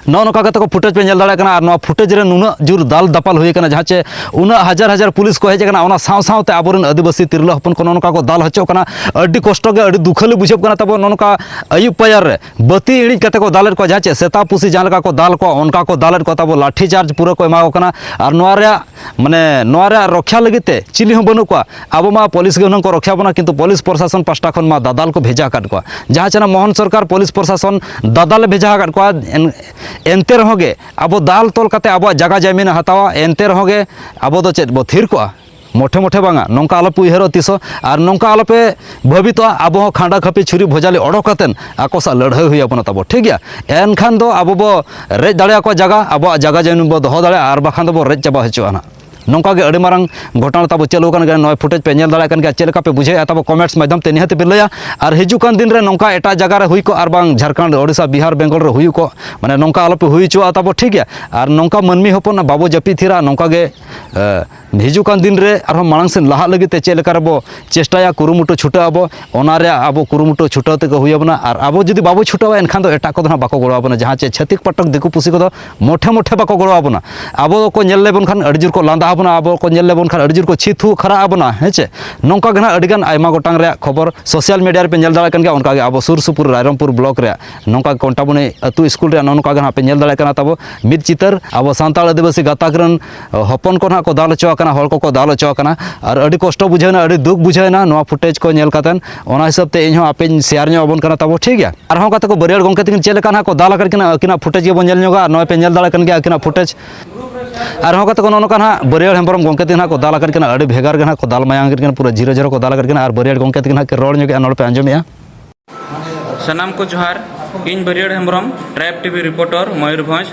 ᱱᱚᱜᱼᱚ ᱱᱚᱝᱠᱟ ᱠᱟᱛᱮ ᱠᱚ ᱯᱷᱩᱴᱮᱡᱽ ᱯᱮ ᱧᱮᱞ ᱫᱟᱲᱮᱭᱟᱜ ᱠᱟᱱᱟ ᱟᱨ ᱱᱚᱣᱟ ᱯᱷᱩᱴᱮᱡᱽ ᱨᱮ ᱱᱩᱱᱟᱹᱜ ᱡᱳᱨ ᱫᱟᱞ ᱫᱟᱯᱟᱞ ᱦᱩᱭ ᱟᱠᱟᱱᱟ ᱡᱟᱦᱟᱸ ᱪᱮ ᱩᱱᱟᱹᱜ ᱦᱟᱡᱟᱨ ᱦᱟᱡᱟᱨ ᱯᱩᱞᱤᱥ ᱠᱚ ᱦᱮᱡ ᱟᱠᱟᱱᱟ ᱚᱱᱟ ᱥᱟᱶ ᱥᱟᱶᱛᱮ ᱟᱵᱚᱨᱮᱱ ᱟᱹᱫᱤᱵᱟᱹᱥᱤ ᱛᱤᱨᱞᱟᱹ ᱦᱚᱯᱚᱱ ᱠᱚ ᱱᱚᱜᱼᱚ ᱱᱚᱝᱠᱟ ᱠᱚ ᱫᱟᱞ ᱦᱚᱪᱚᱜ ᱠᱟᱱᱟ ᱟᱹᱰᱤ ᱠᱚᱥᱴᱚ ᱜᱮ ᱟᱹᱰᱤ ᱫᱩᱠᱷᱟᱹᱞᱤ ᱵᱩᱡᱷᱟᱹᱜ ᱠᱟᱱᱟ ᱛᱟᱵᱚ ᱱᱚᱜᱼᱚ ᱱᱚᱝᱠᱟ ᱟᱹᱭᱩᱵ ᱯᱟᱭᱟᱨ ᱨᱮ ᱵᱟᱹᱛᱤ ᱤᱬᱤᱡ ᱠᱟᱛᱮ ᱠᱚ ᱫᱟᱞᱮᱫ ᱠᱚᱣᱟ ᱡᱟᱦᱟᱸ ᱪᱮ ᱥᱮᱛᱟ ᱯᱩᱥᱤ ᱡᱟᱦᱟᱸ ᱞᱮᱠᱟ ᱠᱚ ᱫᱟᱞ ᱠᱚᱣᱟ ᱚᱱᱠᱟ ᱠᱚ ᱫᱟᱞᱮᱫ ᱠᱚᱣᱟ ᱛᱟᱵᱚ ᱞᱟᱴᱷᱤ ᱪᱟᱨᱡᱽ ᱯᱩᱨᱟᱹ ᱠᱚ ᱮᱢᱟ ᱠᱚ ᱠᱟᱱᱟ ᱟᱨ ᱱᱚᱣᱟ ᱨᱮᱭᱟᱜ ᱢᱟᱱᱮ ᱱᱚᱣᱟ ᱨᱮᱭᱟᱜ ᱨᱚᱠᱷᱟ ᱞᱟᱹᱜᱤᱫ ᱛᱮ ᱪᱤᱞᱤ ᱦᱚᱸ ᱵᱟᱹᱱᱩᱜ ᱠᱚᱣᱟ ᱟᱵᱚ ᱢᱟ ᱯᱩᱞᱤᱥ ᱜᱮ ᱦᱩᱱᱟᱹᱝ ᱠᱚ ᱨᱚᱠᱷᱟ ᱵᱚᱱᱟ ᱠᱤᱱᱛᱩ ᱯᱩᱞᱤᱥ ᱯᱨᱚᱥᱟᱥᱚᱱ ᱯᱟᱥᱴᱟ ᱠᱷᱚᱱ ᱢᱟ ᱫᱟᱫᱟᱞ ᱠᱚ ᱵᱷᱮᱡᱟ ᱟᱠᱟᱫ ᱠᱚᱣᱟ ᱡᱟᱦᱟᱸ ᱪᱮᱱᱟᱜ ᱢᱳᱦᱚᱱ ᱥᱚᱨᱠᱟᱨ ᱯᱩᱞᱤᱥ ᱯᱨᱚᱥᱟᱥᱚᱱ ᱫᱟᱫᱟᱞᱮ ᱵᱷᱮᱡᱟ ᱟᱠᱟᱫ ᱠᱚᱣᱟ ᱮᱱᱛᱮ ᱨᱮᱦᱚᱸ ᱜᱮ ᱟᱵᱚ ᱫᱟᱞ ᱛᱚᱞ ᱠᱟᱛᱮ ᱟᱵᱚᱣᱟᱜ ᱡᱟᱭᱜᱟ ᱡᱟᱭᱢᱤᱱ ᱦᱟᱛᱟᱣᱟ ᱮᱱᱛᱮ ᱨᱮᱦᱚᱸ ᱜᱮ ᱟᱵᱚ ᱫᱚ ᱪᱮᱫ ᱵᱚ ᱛᱷᱤᱨ ᱠᱚᱜᱼᱟ ᱢᱚᱴᱷᱮ ᱢᱚᱴᱷᱮ ᱵᱟᱝᱟ ᱱᱚᱝᱠᱟ ᱟᱞᱚᱯᱮ ᱩᱭᱦᱟᱹᱨᱚᱜᱼᱟ ᱛᱤᱥ ᱦᱚᱸ ᱟᱨ ᱱᱚᱝᱠᱟ ᱟᱞᱚᱯᱮ ᱵᱷᱟᱹᱵᱤ ᱛᱚ ᱟᱵᱚ ᱦᱚᱸ ᱠᱷᱟᱸᱰᱟ ᱠᱷᱟᱹᱯᱤ ᱪᱷᱩᱨᱤ ᱵᱷᱚᱡᱟᱞᱤ ᱚᱰᱚᱠ ᱠᱟᱛᱮᱱ ᱟᱠᱚ ᱥᱟᱜ ᱞᱟᱹᱲᱦᱟᱹᱭ ᱦᱩᱭ ᱟᱵᱚᱱᱟ ᱛᱟᱵᱚ ᱴᱷᱤᱠ ᱜᱮᱭᱟ ᱮᱱᱠᱷᱟᱱ ᱫᱚ ᱟᱵᱚ ᱵᱚ ᱨᱮᱡ ᱫᱟᱲᱮ ᱟᱠᱚᱣᱟ ᱡᱟᱭᱜᱟ ᱟᱵᱚᱣᱟᱜ ᱡᱟᱭᱜᱟ ᱡᱟᱹᱱᱤ ᱵᱚ ᱫᱚᱦᱚ ᱫᱟᱲᱮᱭᱟᱜᱼᱟ ᱟᱨ ᱵᱟᱠᱷᱟᱱ ᱫᱚᱵᱚ ᱨᱮᱡ ᱪᱟᱵᱟ ᱦᱚᱪᱚᱜᱼᱟ ᱱᱟᱜ ᱱᱚᱝᱠᱟ ᱜᱮ ᱟᱹᱰᱤ ᱢᱟᱨᱟᱝ ᱜᱷᱚᱴᱚᱱᱟ ᱛᱟᱵᱚ ᱪᱟᱹᱞᱩ ᱟᱠᱟᱱ ᱜᱮᱭᱟ ᱱᱚᱜᱼᱚᱭ ᱯᱷᱩᱴᱮᱡᱽ ᱯᱮ ᱧᱮᱞ ᱫᱟᱲᱮᱭᱟᱜ ᱠᱟᱱ ᱜᱮᱭᱟ ᱪᱮᱫ ᱞᱮᱠᱟ ᱯᱮ ᱵᱩᱡᱷᱟᱹᱣᱮᱫᱼᱟ ᱛᱟᱵᱚ ᱠᱚᱢᱮᱱᱴᱥ ᱢᱟᱫᱽᱫᱷᱚᱢ ᱛᱮ ᱱᱤᱦᱟᱹᱛ ᱯᱮ ᱞᱟᱹᱭᱟ ᱟᱨ ᱦᱤᱡᱩᱜ ᱠᱟᱱ ᱫᱤᱱ ᱨᱮ ᱱᱚᱝᱠᱟ ᱮᱴᱟᱜ ᱡᱟᱭᱜᱟ ᱨᱮ ᱦᱩᱭ ᱠᱚᱜ ᱟᱨ ᱵᱟᱝ ᱡᱷᱟᱲᱠᱷᱚᱸᱰ ᱳᱰᱤᱥᱟ ᱵᱤᱦᱟᱨ ᱵᱮᱝᱜᱚᱞ ᱨᱮ ᱦᱩᱭ ᱠᱚᱜ ᱢᱟᱱᱮ ᱱᱚᱝᱠᱟ ᱟᱞᱚ ᱯᱮ ᱦᱩᱭ ᱦᱚᱪᱚᱣᱟᱜᱼᱟ ᱛᱟᱵᱚ ᱴᱷᱤᱠ ᱜᱮᱭᱟ ᱟᱨ ᱱᱚᱝᱠᱟ ᱢᱟᱹᱱᱢᱤ ᱦᱚᱯᱚᱱ ᱵᱟᱵᱚ ᱡᱟᱹᱯᱤᱫ ᱛᱷᱤᱨᱟ ᱱᱚᱝᱠᱟ ᱜᱮ ᱦᱤᱡᱩᱜ ᱠᱟᱱ ᱫᱤᱱ ᱨᱮ ᱟᱨᱦᱚᱸ ᱢᱟᱲᱟᱝ ᱥᱮᱫ ᱞᱟᱦᱟᱜ ᱞᱟᱹᱜᱤᱫ ᱛᱮ ᱪᱮᱫ ᱞᱮᱠᱟ ᱨᱮᱵᱚ ᱪᱮᱥᱴᱟᱭᱟ ᱠᱩᱨᱩᱢᱩᱴᱩ ᱪᱷᱩᱴᱟᱹᱜ ᱟᱵᱚ ᱚᱱᱟ ᱨᱮ ᱟᱵᱚ ᱠᱩᱨᱩᱢᱩᱴᱩ ᱪᱷᱩᱴᱟᱹᱣ ᱛᱮᱜᱮ ᱦᱩᱭ ᱟᱵᱚᱱᱟ ᱟᱨ ᱟᱵᱚ ᱡᱩᱫᱤ ᱵᱟᱵᱚ ᱪᱷᱩᱴᱟᱹᱣᱟ ᱮᱱᱠᱷᱟᱱ ᱫᱚ ᱮᱴᱟᱜ ᱠᱚᱫᱚ ᱦᱟᱸᱜ ᱵᱟᱠᱚ ᱜᱚᱲᱚ ᱟᱵᱚᱱᱟ ᱡᱟᱦᱟᱸ ᱪᱮ ᱪᱷᱟᱹᱛᱤᱠ ᱯᱟᱴᱚᱠ ᱫᱤᱠᱩ ᱯᱩᱥᱤ ᱠᱚᱫᱚ ᱢᱚᱴᱷᱮ ᱢᱚᱴᱷᱮ ᱵᱟᱠᱚ ᱜᱚᱲᱚ ᱟᱵᱚᱱᱟ ᱟᱵᱚ ᱫᱚᱠᱚ ᱧᱮᱞ ᱞᱮᱵᱚᱱ ᱠᱷᱟᱱ ᱟᱹᱰᱤ ᱡᱳᱨ ᱠᱚ ᱞᱟᱸᱫᱟ ᱟᱵᱚᱱᱟ ᱟᱵᱚ ᱠᱚ ᱧᱮᱞ ᱞᱮᱵᱚᱱ ᱠᱷᱟᱱ ᱟᱹᱰᱤ ᱡᱳᱨ ᱠᱚ ᱪᱷᱤ ᱛᱷᱩ ᱠᱷᱟᱨᱟᱜ ᱟᱵᱚᱱᱟ ᱦᱮᱸ ᱪᱮ ᱱᱚᱝᱠᱟ ᱜᱮ ᱦᱟᱸᱜ ᱟᱹᱰᱤ ᱜᱟᱱ ᱟᱭᱢᱟ ᱜᱚᱴᱟᱝ ᱨᱮᱭᱟᱜ ᱠᱷᱚᱵᱚᱨ ᱥᱳᱥᱟᱞ ᱢᱤᱰᱤᱭᱟ ᱨᱮᱯᱮ ᱧᱮᱞ ᱫᱟᱲᱮᱭᱟᱜ ᱠᱟᱱ ᱜᱮᱭᱟ ᱚᱱᱠᱟ ᱜᱮ ᱟᱵᱚ ᱥᱩᱨ ᱥᱩᱯᱩᱨ ᱨᱟᱭᱨᱚᱝᱯᱩᱨ ᱵᱞᱚᱠ ᱨᱮᱭᱟᱜ ᱱᱚᱝᱠᱟ ᱠᱚᱱᱴᱟᱵᱚᱱᱤ ᱟᱹᱛᱩ ᱥᱠᱩᱞ ᱨᱮᱭᱟᱜ ᱱᱚᱜᱼᱚ ᱱᱚᱝᱠᱟ ᱜᱮ ᱦᱟᱸᱜ ᱯᱮ ᱧᱮᱞ ᱫᱟᱲᱮᱭᱟᱜ ᱠᱟᱱᱟ ᱛᱟᱵᱚ ᱢᱤᱫ ᱪᱤᱛᱟᱹᱨ ᱟᱵᱚ ᱥᱟᱱᱛᱟᱲ ᱟᱹᱫᱤᱵᱟᱹᱥᱤ ᱜᱟᱛᱟᱠ ᱨᱮᱱ ᱦᱚᱯᱚᱱ ᱠᱚ ᱱᱟᱦᱟᱜ ᱠᱚ ᱫᱟᱞ ᱦᱚᱪᱚ ᱟᱠᱟᱱᱟ ᱦᱚᱲ ᱠᱚᱠᱚ ᱫᱟᱞ ᱦᱚᱪᱚ ᱟᱠᱟᱱᱟ ᱟᱨ ᱟᱹᱰᱤ ᱠᱚᱥᱴᱚ ᱵᱩᱡᱷᱟᱹᱣᱱᱟ ᱟᱹᱰᱤ ᱫᱩᱠ ᱵᱩᱡᱷᱟᱹᱣᱱᱟ ᱱᱚᱣᱟ ᱯᱷᱩᱴᱮᱡᱽ ᱠᱚ ᱧᱮᱞ ᱠᱟᱛᱮᱫ ᱚᱱᱟ ᱦᱤᱥᱟᱹᱵ ᱛᱮ ᱤᱧᱦᱚᱸ ᱟᱯᱮᱧ ᱥᱮᱭᱟᱨ ᱧᱚᱜ ᱟᱵᱚᱱ ᱠᱟᱱᱟ ᱛᱟᱵᱚ ᱴᱷᱤᱠ ᱜᱮᱭᱟ ᱟᱨᱦᱚᱸ ᱠᱟᱛᱮ ᱠᱚ ᱵᱟᱹᱨᱭᱟᱹᱲ ᱜᱚᱢᱠᱮ ᱛᱟᱹᱠᱤᱱ ᱪᱮᱫ ᱞᱮᱠᱟ ᱱᱟᱦᱟᱜ ᱠᱚ ᱫᱟᱞ ᱟᱠᱟᱫ ᱠᱤᱱᱟ ᱟᱹᱠᱤᱱᱟᱜ ᱯᱷᱩᱴᱮᱡᱽ ᱜᱮᱵᱚᱱ ᱧᱮᱞ ᱧᱚᱜᱟ ᱱᱚᱜᱼᱚᱭ ᱯᱮ ᱧᱮᱞ ᱫᱟᱲᱮᱭᱟᱜ ᱠᱟᱱ ᱜᱮᱭᱟ ᱟᱹᱠᱤᱱᱟᱜ ᱯᱷᱩᱴᱮᱡᱽ ᱟᱨᱦᱚᱸ ᱠᱟᱛᱮ ᱠᱚ ᱱᱚᱜᱼᱚ ᱱᱚᱝᱠᱟ ᱱᱟᱦᱟᱜ ᱵᱟᱹᱨᱭᱟᱹᱲ ᱦᱮᱢᱵᱨᱚᱢ ᱜᱚᱢᱠᱮ ᱛᱟᱹᱠᱤᱱ ᱱᱟᱦᱟᱜ ᱠᱚ ᱫᱟᱞ ᱟᱠᱟᱫ ᱠᱤᱱᱟ ᱟᱹᱰᱤ ᱵᱷᱮᱜᱟᱨ ᱜᱮ ᱱᱟᱦᱟᱜ ᱠᱚ ᱫᱟᱞ ᱢᱟᱭᱟᱝ ᱠᱮᱫ ᱠᱤᱱᱟ ᱯᱩᱨᱟᱹ ᱡᱤᱨᱟᱹ ᱡᱤᱨᱟᱹ ᱠᱚ ᱫᱟᱞ ᱟᱠᱟᱫ ᱠᱤᱱᱟ ᱟᱨ ᱵᱟᱹᱨᱭᱟᱹᱲ ᱜᱚᱢᱠᱮ ᱛᱟᱹᱠᱤᱱ ᱱᱟᱦᱟᱜ ᱠᱤᱱ ᱨᱚᱲ ᱧᱚᱜᱮᱜᱼᱟ ᱱᱚᱰᱮ ᱯᱮ ᱟᱸᱡᱚᱢᱮᱜᱼᱟ ᱥᱟᱱᱟᱢ ᱠᱚ ᱡᱚᱦᱟᱨ ᱤᱧ ᱵᱟᱹᱨᱤᱭᱟᱹᱲ Hembrom tribe TV reporter Mayurbhanj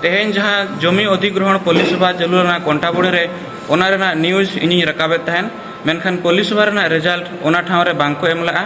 ᱛᱮᱦᱮᱧ ᱡᱟᱦᱟᱸ ᱡᱚᱢᱤ ᱚᱫᱷᱤᱜᱨᱚᱦᱚᱱ ᱯᱚᱞᱤᱥᱚᱵᱷᱟ ᱪᱟᱹᱞᱩ ᱞᱮᱱᱟ ᱠᱚᱱᱴᱟᱵᱩᱲᱤ ᱨᱮ ᱚᱱᱟ ᱨᱮᱱᱟᱜ ᱱᱤᱭᱩᱡᱽ ᱤᱧᱤᱧ ᱨᱟᱠᱟᱵᱮᱫ ᱛᱟᱦᱮᱱ ᱢᱮᱱᱠᱷᱟᱱ ᱯᱚᱞᱤᱥᱚᱵᱷᱟ ᱨᱮᱱᱟᱜ ᱨᱮᱡᱟᱞᱴ ᱚᱱᱟ ᱴᱷᱟᱶ ᱨᱮ ᱵᱟᱝ ᱠᱚ ᱮᱢ ᱞᱮᱫᱼᱟ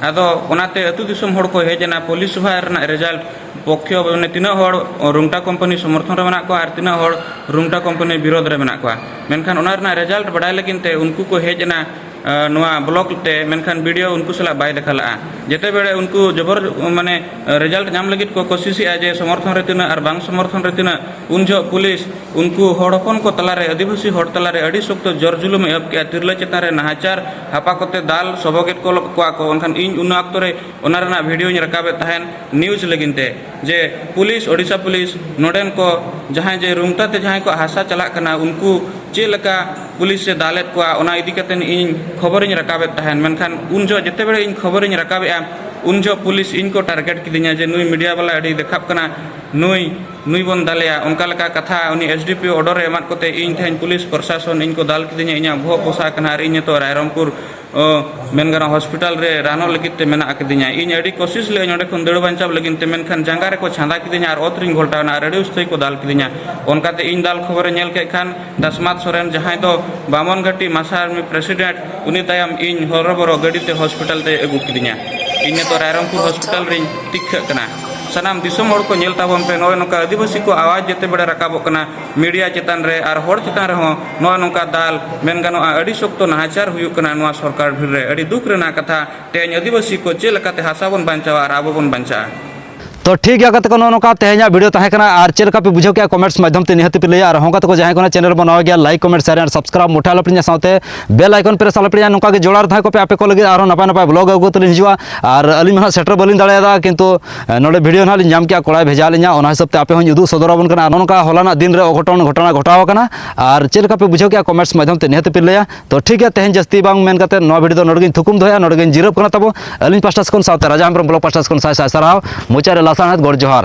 ᱟᱫᱚ ᱚᱱᱟᱛᱮ ᱟᱹᱛᱩ ᱫᱤᱥᱚᱢ ᱦᱚᱲ ᱠᱚ ᱦᱮᱡ ᱮᱱᱟ ᱯᱚᱞᱤᱥᱚᱵᱷᱟ ᱨᱮᱱᱟᱜ ᱨᱮᱡᱟᱞᱴ ᱯᱚᱠᱠᱷᱮ ᱢᱟᱱᱮ ᱛᱤᱱᱟᱹᱜ ᱦᱚᱲ ᱨᱩᱝᱴᱟ ᱠᱳᱢᱯᱟᱱᱤ ᱥᱚᱢᱚᱨᱛᱷᱚᱱ ᱨᱮ ᱢᱮᱱᱟᱜ ᱠᱚᱣᱟ ᱟᱨ ᱛᱤᱱᱟᱹᱜ ᱦᱚᱲ ᱨᱩᱝᱴᱟ ᱠᱳᱢᱯᱟᱱᱤ ᱵᱤᱨᱳᱫᱷ ᱨᱮ ᱢᱮᱱᱟᱜ ᱠᱚᱣᱟ ᱢᱮᱱᱠᱷᱟᱱ ᱚᱱᱟ ᱨᱮᱱᱟᱜ ᱨᱮᱡᱟᱞᱴ ᱵᱟᱰᱟᱭ ᱞᱟᱹᱜᱤᱫ ᱛᱮ ᱩᱱᱠᱩ ᱠᱚ ᱦᱮᱡ ᱮᱱᱟ ᱱᱚᱣᱟ ᱵᱞᱚᱠ ᱛᱮ ᱢᱮᱱᱠᱷᱟᱱ ᱵᱤᱰᱤᱭᱳ ᱩᱱᱠᱩ ᱥᱟᱞᱟᱜ ᱵᱟᱭ ᱫᱮᱠᱷᱟ ᱞᱟᱜᱼᱟ ᱡᱮᱛᱮ ᱵᱮᱲᱮ ᱩᱱᱠᱩ ᱡᱚᱵᱚᱨ ᱢᱟᱱᱮ ᱨᱮᱡᱟᱞᱴ ᱧᱟᱢ ᱞᱟᱹᱜᱤᱫ ᱠᱚ ᱠᱚᱥᱤᱥᱮᱜᱼᱟ ᱡᱮ ᱥᱚᱢᱚᱨᱛᱷᱚᱱ ᱨᱮ ᱛᱤᱱᱟᱹᱜ ᱟᱨ ᱵᱟᱝ ᱥᱚᱢᱚᱨᱛᱷᱚᱱ ᱨᱮ ᱛᱤᱱᱟᱹᱜ ᱩᱱ ᱡᱚᱦᱚᱜ ᱯᱩᱞᱤᱥ ᱩᱱᱠᱩ ᱦᱚᱲ ᱦᱚᱯᱚᱱ ᱠᱚ ᱛᱟᱞᱟᱨᱮ ᱟᱹᱫᱤᱵᱟᱹᱥᱤ ᱦᱚᱲ ᱛᱟᱞᱟᱨᱮ ᱟᱹᱰᱤ ᱥᱚᱠᱛᱚ ᱡᱚᱨ ᱡᱩᱞᱩᱢ ᱮ ᱮᱦᱚᱵ ᱠᱮᱜᱼᱟ ᱛᱤᱨᱞᱟᱹ ᱪᱮᱛᱟᱱ ᱨᱮ ᱱᱟᱦᱟᱪᱟᱨ ᱦᱟᱯᱟ ᱠᱚᱛᱮ ᱫᱟᱞ ᱥᱚᱵᱚᱜᱮᱫ ᱠᱚᱣᱟ ᱠᱚ ᱢᱮᱱᱠᱷᱟᱱ ᱤᱧ ᱚᱱᱟ ᱚᱠᱛᱚ ᱨᱮ ᱚᱱᱟ ᱨᱮᱱᱟᱜ ᱵᱷᱤᱰᱤᱭᱳᱧ ᱨᱟᱠᱟᱵᱮᱫ ᱛᱟᱦᱮᱸᱫ ᱱᱤᱭᱩᱡᱽ ᱞᱟᱹᱜᱤᱫ ᱛᱮ ᱡᱮ ᱯᱩᱞᱤᱥ ᱳᱰᱤᱥᱟ ᱯᱩᱞᱤᱥ ᱱᱚᱰᱮᱱ ᱠᱚ ᱡᱟᱦᱟᱸᱭ ᱡᱮ ᱨᱩᱝᱴᱟ ᱛᱮ ᱡᱟᱦᱟᱸᱭ ᱠᱚ ᱦᱟᱥᱟ ᱪᱟᱞᱟᱜ ᱠᱟᱱᱟ ᱩᱱᱠᱩ ᱪᱮᱫ ᱞᱮᱠᱟ ᱯᱩᱞᱤᱥ ᱮ ᱫᱟᱞᱮᱫ ᱠᱚᱣᱟ ᱚᱱᱟ ᱤᱫᱤ ᱠᱟᱛᱮ ᱤᱧ ᱠᱷᱚᱵᱚᱨᱤᱧ ᱨᱟᱠᱟᱵᱮᱫ ᱛᱟᱦᱮᱱ ᱢᱮᱱᱠᱷᱟᱱ ᱩᱱ ᱡᱚᱦᱚᱜ ᱡᱮᱛᱮ ᱵᱮᱲᱮ ᱤᱧ ᱠᱷᱚᱵᱚᱨᱤᱧ ᱨᱟᱠᱟᱵᱮᱜᱼᱟ ᱩᱱ ᱡᱚᱦᱚᱜ ᱯᱩᱞᱤᱥ ᱤᱧ ᱠᱚ ᱴᱟᱨᱜᱮᱴ ᱠᱤᱫᱤᱧᱟ ᱡᱮ ᱱᱩᱭ ᱢᱤᱰᱤᱭᱟ ᱵᱟᱞᱟ ᱟᱹᱰᱤ ᱫᱮᱠᱷᱟᱵ ᱠᱟᱱᱟ ᱱᱩᱭ ᱱᱩᱭ ᱵᱚᱱ ᱫᱟᱞᱮᱭᱟ ᱚᱱᱠᱟ ᱞᱮᱠᱟ ᱠᱟᱛᱷᱟ ᱩᱱᱤ ᱮᱥ ᱰᱤ ᱯᱤ ᱚᱰᱚᱨ ᱮ ᱮᱢᱟᱫ ᱠᱚᱛᱮ ᱤᱧ ᱛᱮᱦᱮᱧ ᱯᱩᱞᱤᱥ ᱯᱨᱚᱥᱟᱥᱚᱱ ᱤᱧ ᱠᱚ ᱫᱟᱞ ᱠᱤᱫᱤᱧᱟ ᱤᱧᱟᱹᱜ ᱵᱚᱦᱚᱜ ᱯᱚᱥᱟᱜ ᱠᱟᱱᱟ ᱟᱨ ᱤᱧ ᱱᱤᱛᱚᱜ ᱨᱟᱭᱨᱚᱝᱯᱩᱨ ᱢᱮᱱ ᱜᱟᱱᱚᱜᱼᱟ ᱦᱚᱥᱯᱤᱴᱟᱞ ᱨᱮ ᱨᱟᱱᱚᱜ ᱞᱟᱹᱜᱤᱫ ᱛᱮ ᱢᱮᱱᱟᱜ ᱟᱠᱟᱫᱤᱧᱟ ᱤᱧ ᱟᱹᱰᱤ ᱠᱳᱥᱤᱥ ᱞᱮᱫᱟᱹᱧ ᱚᱸᱰᱮ ᱠᱷᱚᱱ ᱫᱟᱹᱲ ᱵᱟᱧᱪᱟᱣ ᱞᱟᱹᱜᱤᱫ ᱛᱮ ᱢᱮᱱᱠᱷᱟᱱ ᱡᱟᱸᱜᱟ ᱨᱮᱠᱚ ᱪᱷᱟᱸᱫᱟ ᱠᱤᱫᱤᱧᱟ ᱟᱨ ᱚᱛ ᱨᱤᱧ ᱜᱷᱚᱞᱴᱟᱣ ᱮᱱᱟ ᱟᱨ ᱟᱹᱰᱤ ᱩᱥᱛᱟᱹᱨ ᱠᱚ ᱫᱟᱞ ᱠᱤᱫᱤᱧᱟ ᱚᱱᱠᱟᱛᱮ ᱤᱧ ᱫᱟᱞ ᱠᱷᱚᱵᱚᱨᱮ ᱧᱮᱞ ᱠᱮᱫ ᱠᱷᱟᱱ ᱫᱟᱥᱢᱟᱛ ᱥᱚᱨᱮᱱ ᱡᱟᱦᱟᱸᱭ ᱫᱚ ᱵᱟᱢᱚᱱ ᱜᱷᱟᱹᱴᱤ ᱢᱟᱥᱟ ᱟᱨᱢᱤ ᱯᱨᱮᱥᱤᱰᱮᱱᱴ ᱩᱱᱤ ᱛᱟᱭᱚᱢ ᱤᱧ ᱦᱚᱨᱚᱵᱚᱨᱚ ᱜᱟᱹᱰᱤ ᱛᱮ ᱦᱚᱥᱯᱤᱴᱟᱞ ᱛᱮ ᱟᱹᱜᱩ ᱠᱤᱫᱤᱧᱟ ᱤᱧ ᱱᱤᱛᱚᱜ ᱨᱟᱭᱨᱚᱝᱯᱩᱨ ᱦᱚᱥᱯᱤᱴᱟᱞ ᱨᱤᱧ ᱛᱤᱠᱷᱟᱹᱜ ᱠᱟᱱᱟ ᱥᱟᱱᱟᱢ ᱫᱤᱥᱚᱢ ᱦᱚᱲ ᱠᱚ ᱧᱮᱞ ᱛᱟᱵᱚᱱ ᱯᱮ ᱱᱚᱜᱼᱚᱭ ᱱᱚᱝᱠᱟ ᱟᱹᱫᱤᱵᱟᱹᱥᱤ ᱠᱚ ᱟᱣᱟᱡᱽ ᱡᱮᱛᱮ ᱵᱮᱲᱟ ᱨᱟᱠᱟᱵᱚᱜ ᱠᱟᱱᱟ ᱢᱤᱰᱤᱭᱟ ᱪᱮᱛᱟᱱ ᱨᱮ ᱟᱨ ᱦᱚᱲ ᱪᱮᱛᱟᱱ ᱨᱮᱦᱚᱸ ᱱᱚᱜᱼᱚᱭ ᱱᱚᱝᱠᱟ ᱫᱟᱞ ᱢᱮᱱ ᱜᱟᱱᱚᱜᱼᱟ ᱟᱹᱰᱤ ᱥᱚᱠᱛᱚ ᱱᱟᱦᱟᱪᱟᱨ ᱦᱩᱭᱩᱜ ᱠᱟᱱᱟ ᱱᱚᱣᱟ ᱥᱚᱨᱠᱟᱨ ᱵᱷᱤᱲ ᱨᱮ ᱟᱹᱰᱤ ᱫᱩᱠ ᱨᱮᱱᱟᱜ ᱠᱟᱛᱷᱟ ᱛᱮᱦᱮᱧ ᱟᱹᱫᱤᱵᱟᱹᱥᱤ ᱠᱚ ᱪᱮᱫ ᱞᱮᱠᱟᱛᱮ ᱦᱟᱥᱟ ᱵᱚᱱ ᱵᱟᱧᱪᱟᱣᱟ ᱟᱨ ᱟᱵᱚ ᱵᱚᱱ ᱵᱟᱧᱪᱟᱜᱼᱟ ᱛᱚ ᱴᱷᱤᱠ ᱜᱮᱭᱟ ᱜᱟᱛᱮ ᱠᱚ ᱱᱚᱜᱼᱚ ᱱᱚᱝᱠᱟ ᱛᱮᱦᱮᱧᱟᱜ ᱵᱷᱤᱰᱤᱭᱳ ᱛᱟᱦᱮᱸ ᱠᱟᱱᱟ ᱟᱨ ᱪᱮᱫ ᱞᱮᱠᱟ ᱯᱮ ᱵᱩᱡᱷᱟᱹᱣ ᱠᱮᱜᱼᱟ ᱠᱚᱢᱮᱱᱴᱥ ᱢᱟᱫᱽᱫᱷᱚᱢ ᱛᱮ ᱱᱤᱦᱟᱹᱛ ᱯᱮ ᱞᱟᱹᱭᱟ ᱟᱨ ᱦᱚᱸ ᱜᱟᱛᱮ ᱠᱚ ᱡᱟᱦᱟᱸᱭ ᱠᱚ ᱪᱮᱱᱮᱞ ᱵᱚᱱ ᱱᱟᱣᱟ ᱜᱮᱭᱟ ᱞᱟᱭᱤᱠ ᱠᱚᱢᱮᱱᱴ ᱥᱮᱭᱟᱨ ᱟᱨ ᱥᱟᱵᱥᱠᱨᱟᱭᱤᱵ ᱢᱚᱴᱷᱟ ᱟᱞᱚᱯᱮ ᱧᱟ ᱥᱟᱶᱛᱮ ᱵᱮᱞ ᱟᱭᱠᱚᱱ ᱯᱨᱮᱥ ᱟᱞᱚᱯᱮ ᱧᱟ ᱱᱚᱝᱠᱟ ᱜᱮ ᱡᱚᱲᱟᱣ ᱨᱮ ᱛᱟᱦᱮᱸ ᱠᱚᱯᱮ ᱟᱯᱮ ᱠᱚ ᱞᱟᱹᱜᱤᱫ ᱟᱨᱦᱚᱸ ᱱᱟᱯᱟᱭ ᱱᱟᱯᱟᱭ ᱵᱞᱚᱜ ᱟᱹᱜᱩ ᱠᱟᱛᱮ ᱞᱤᱧ ᱦᱤᱡᱩᱜᱼᱟ ᱟᱨ ᱟᱹᱞᱤᱧ ᱢᱟ ᱦᱟᱸᱜ ᱥᱮᱴᱮᱨ ᱵᱟᱹᱞᱤᱧ ᱫᱟᱲᱮᱭᱟᱫᱟ ᱠᱤᱱᱛᱩ ᱱᱚᱰᱮ ᱵᱷᱤᱰᱤᱭᱳ ᱱᱟᱦᱟᱜ ᱞᱤᱧ ᱧᱟᱢ ᱠᱮᱜᱼᱟ ᱠᱚᱲᱟᱭ ᱵᱷᱮᱡᱟ ᱞᱤᱧᱟ ᱚᱱᱟ ᱦᱤᱥᱟᱹᱵ ᱛᱮ ᱟᱯᱮ ᱦᱚᱸᱧ ᱩᱫᱩᱜ ᱥᱚᱫᱚᱨ ᱟᱵᱚᱱ ᱠᱟᱱᱟ ᱱᱚᱝᱠᱟ ᱦᱚᱞᱟᱱᱟᱜ ᱫᱤᱱ ᱨᱮ ᱚᱜᱷᱚᱴᱚᱱ ᱜᱷᱚᱴᱚᱱᱟ ᱜᱷᱚᱴᱟᱣ ᱟᱠᱟᱱᱟ ᱟᱨ ᱪᱮᱫ ᱞᱮᱠᱟ ᱯᱮ ᱵᱩᱡᱷᱟᱹᱣ ᱠᱮᱜᱼᱟ ᱠᱚᱢᱮᱱᱴᱥ ᱢᱟᱫᱷᱭᱚᱢ ᱛᱮ ᱱᱤᱦᱟᱹᱛ ᱯᱮ ᱞᱟᱹᱭᱟ ᱛᱚ ᱴᱷᱤᱠ ᱜᱮᱭᱟ ᱛᱮᱦᱮᱧ ᱡᱟᱹᱥᱛᱤ ᱵᱟᱝ ᱢᱮᱱ ᱠᱟᱛᱮ ᱱᱚᱣᱟ ᱵᱷᱤᱰᱤᱭᱳ ᱫᱚ ᱱᱚᱰᱮ ᱜᱤᱧ ᱛᱷᱩᱠᱩᱢ ᱫᱚᱦᱚᱭᱟ ᱱᱚᱰᱮ ᱜᱤᱧ ᱡᱤᱨᱟᱹᱜ ᱠᱟᱱᱟ ᱛᱟᱵᱚ ᱟᱹᱞᱤᱧ ᱯᱟᱥᱴᱟ ᱠᱷᱚᱱ ᱥᱟᱶᱛᱮ ᱨᱟᱡᱟ ᱦᱮᱢᱵᱨᱚᱢ ᱵᱞᱚᱜ ᱯᱟᱥᱴᱟ ᱠᱷᱚᱱ ᱥᱟᱭ ᱥᱟᱭ ᱥᱟᱨᱦᱟᱣ ᱢᱩᱪᱟᱹᱫ ᱨᱮ ᱞᱟᱥᱟᱬᱦᱮᱫ ᱜᱚᱰ ᱡᱚᱦᱟᱨ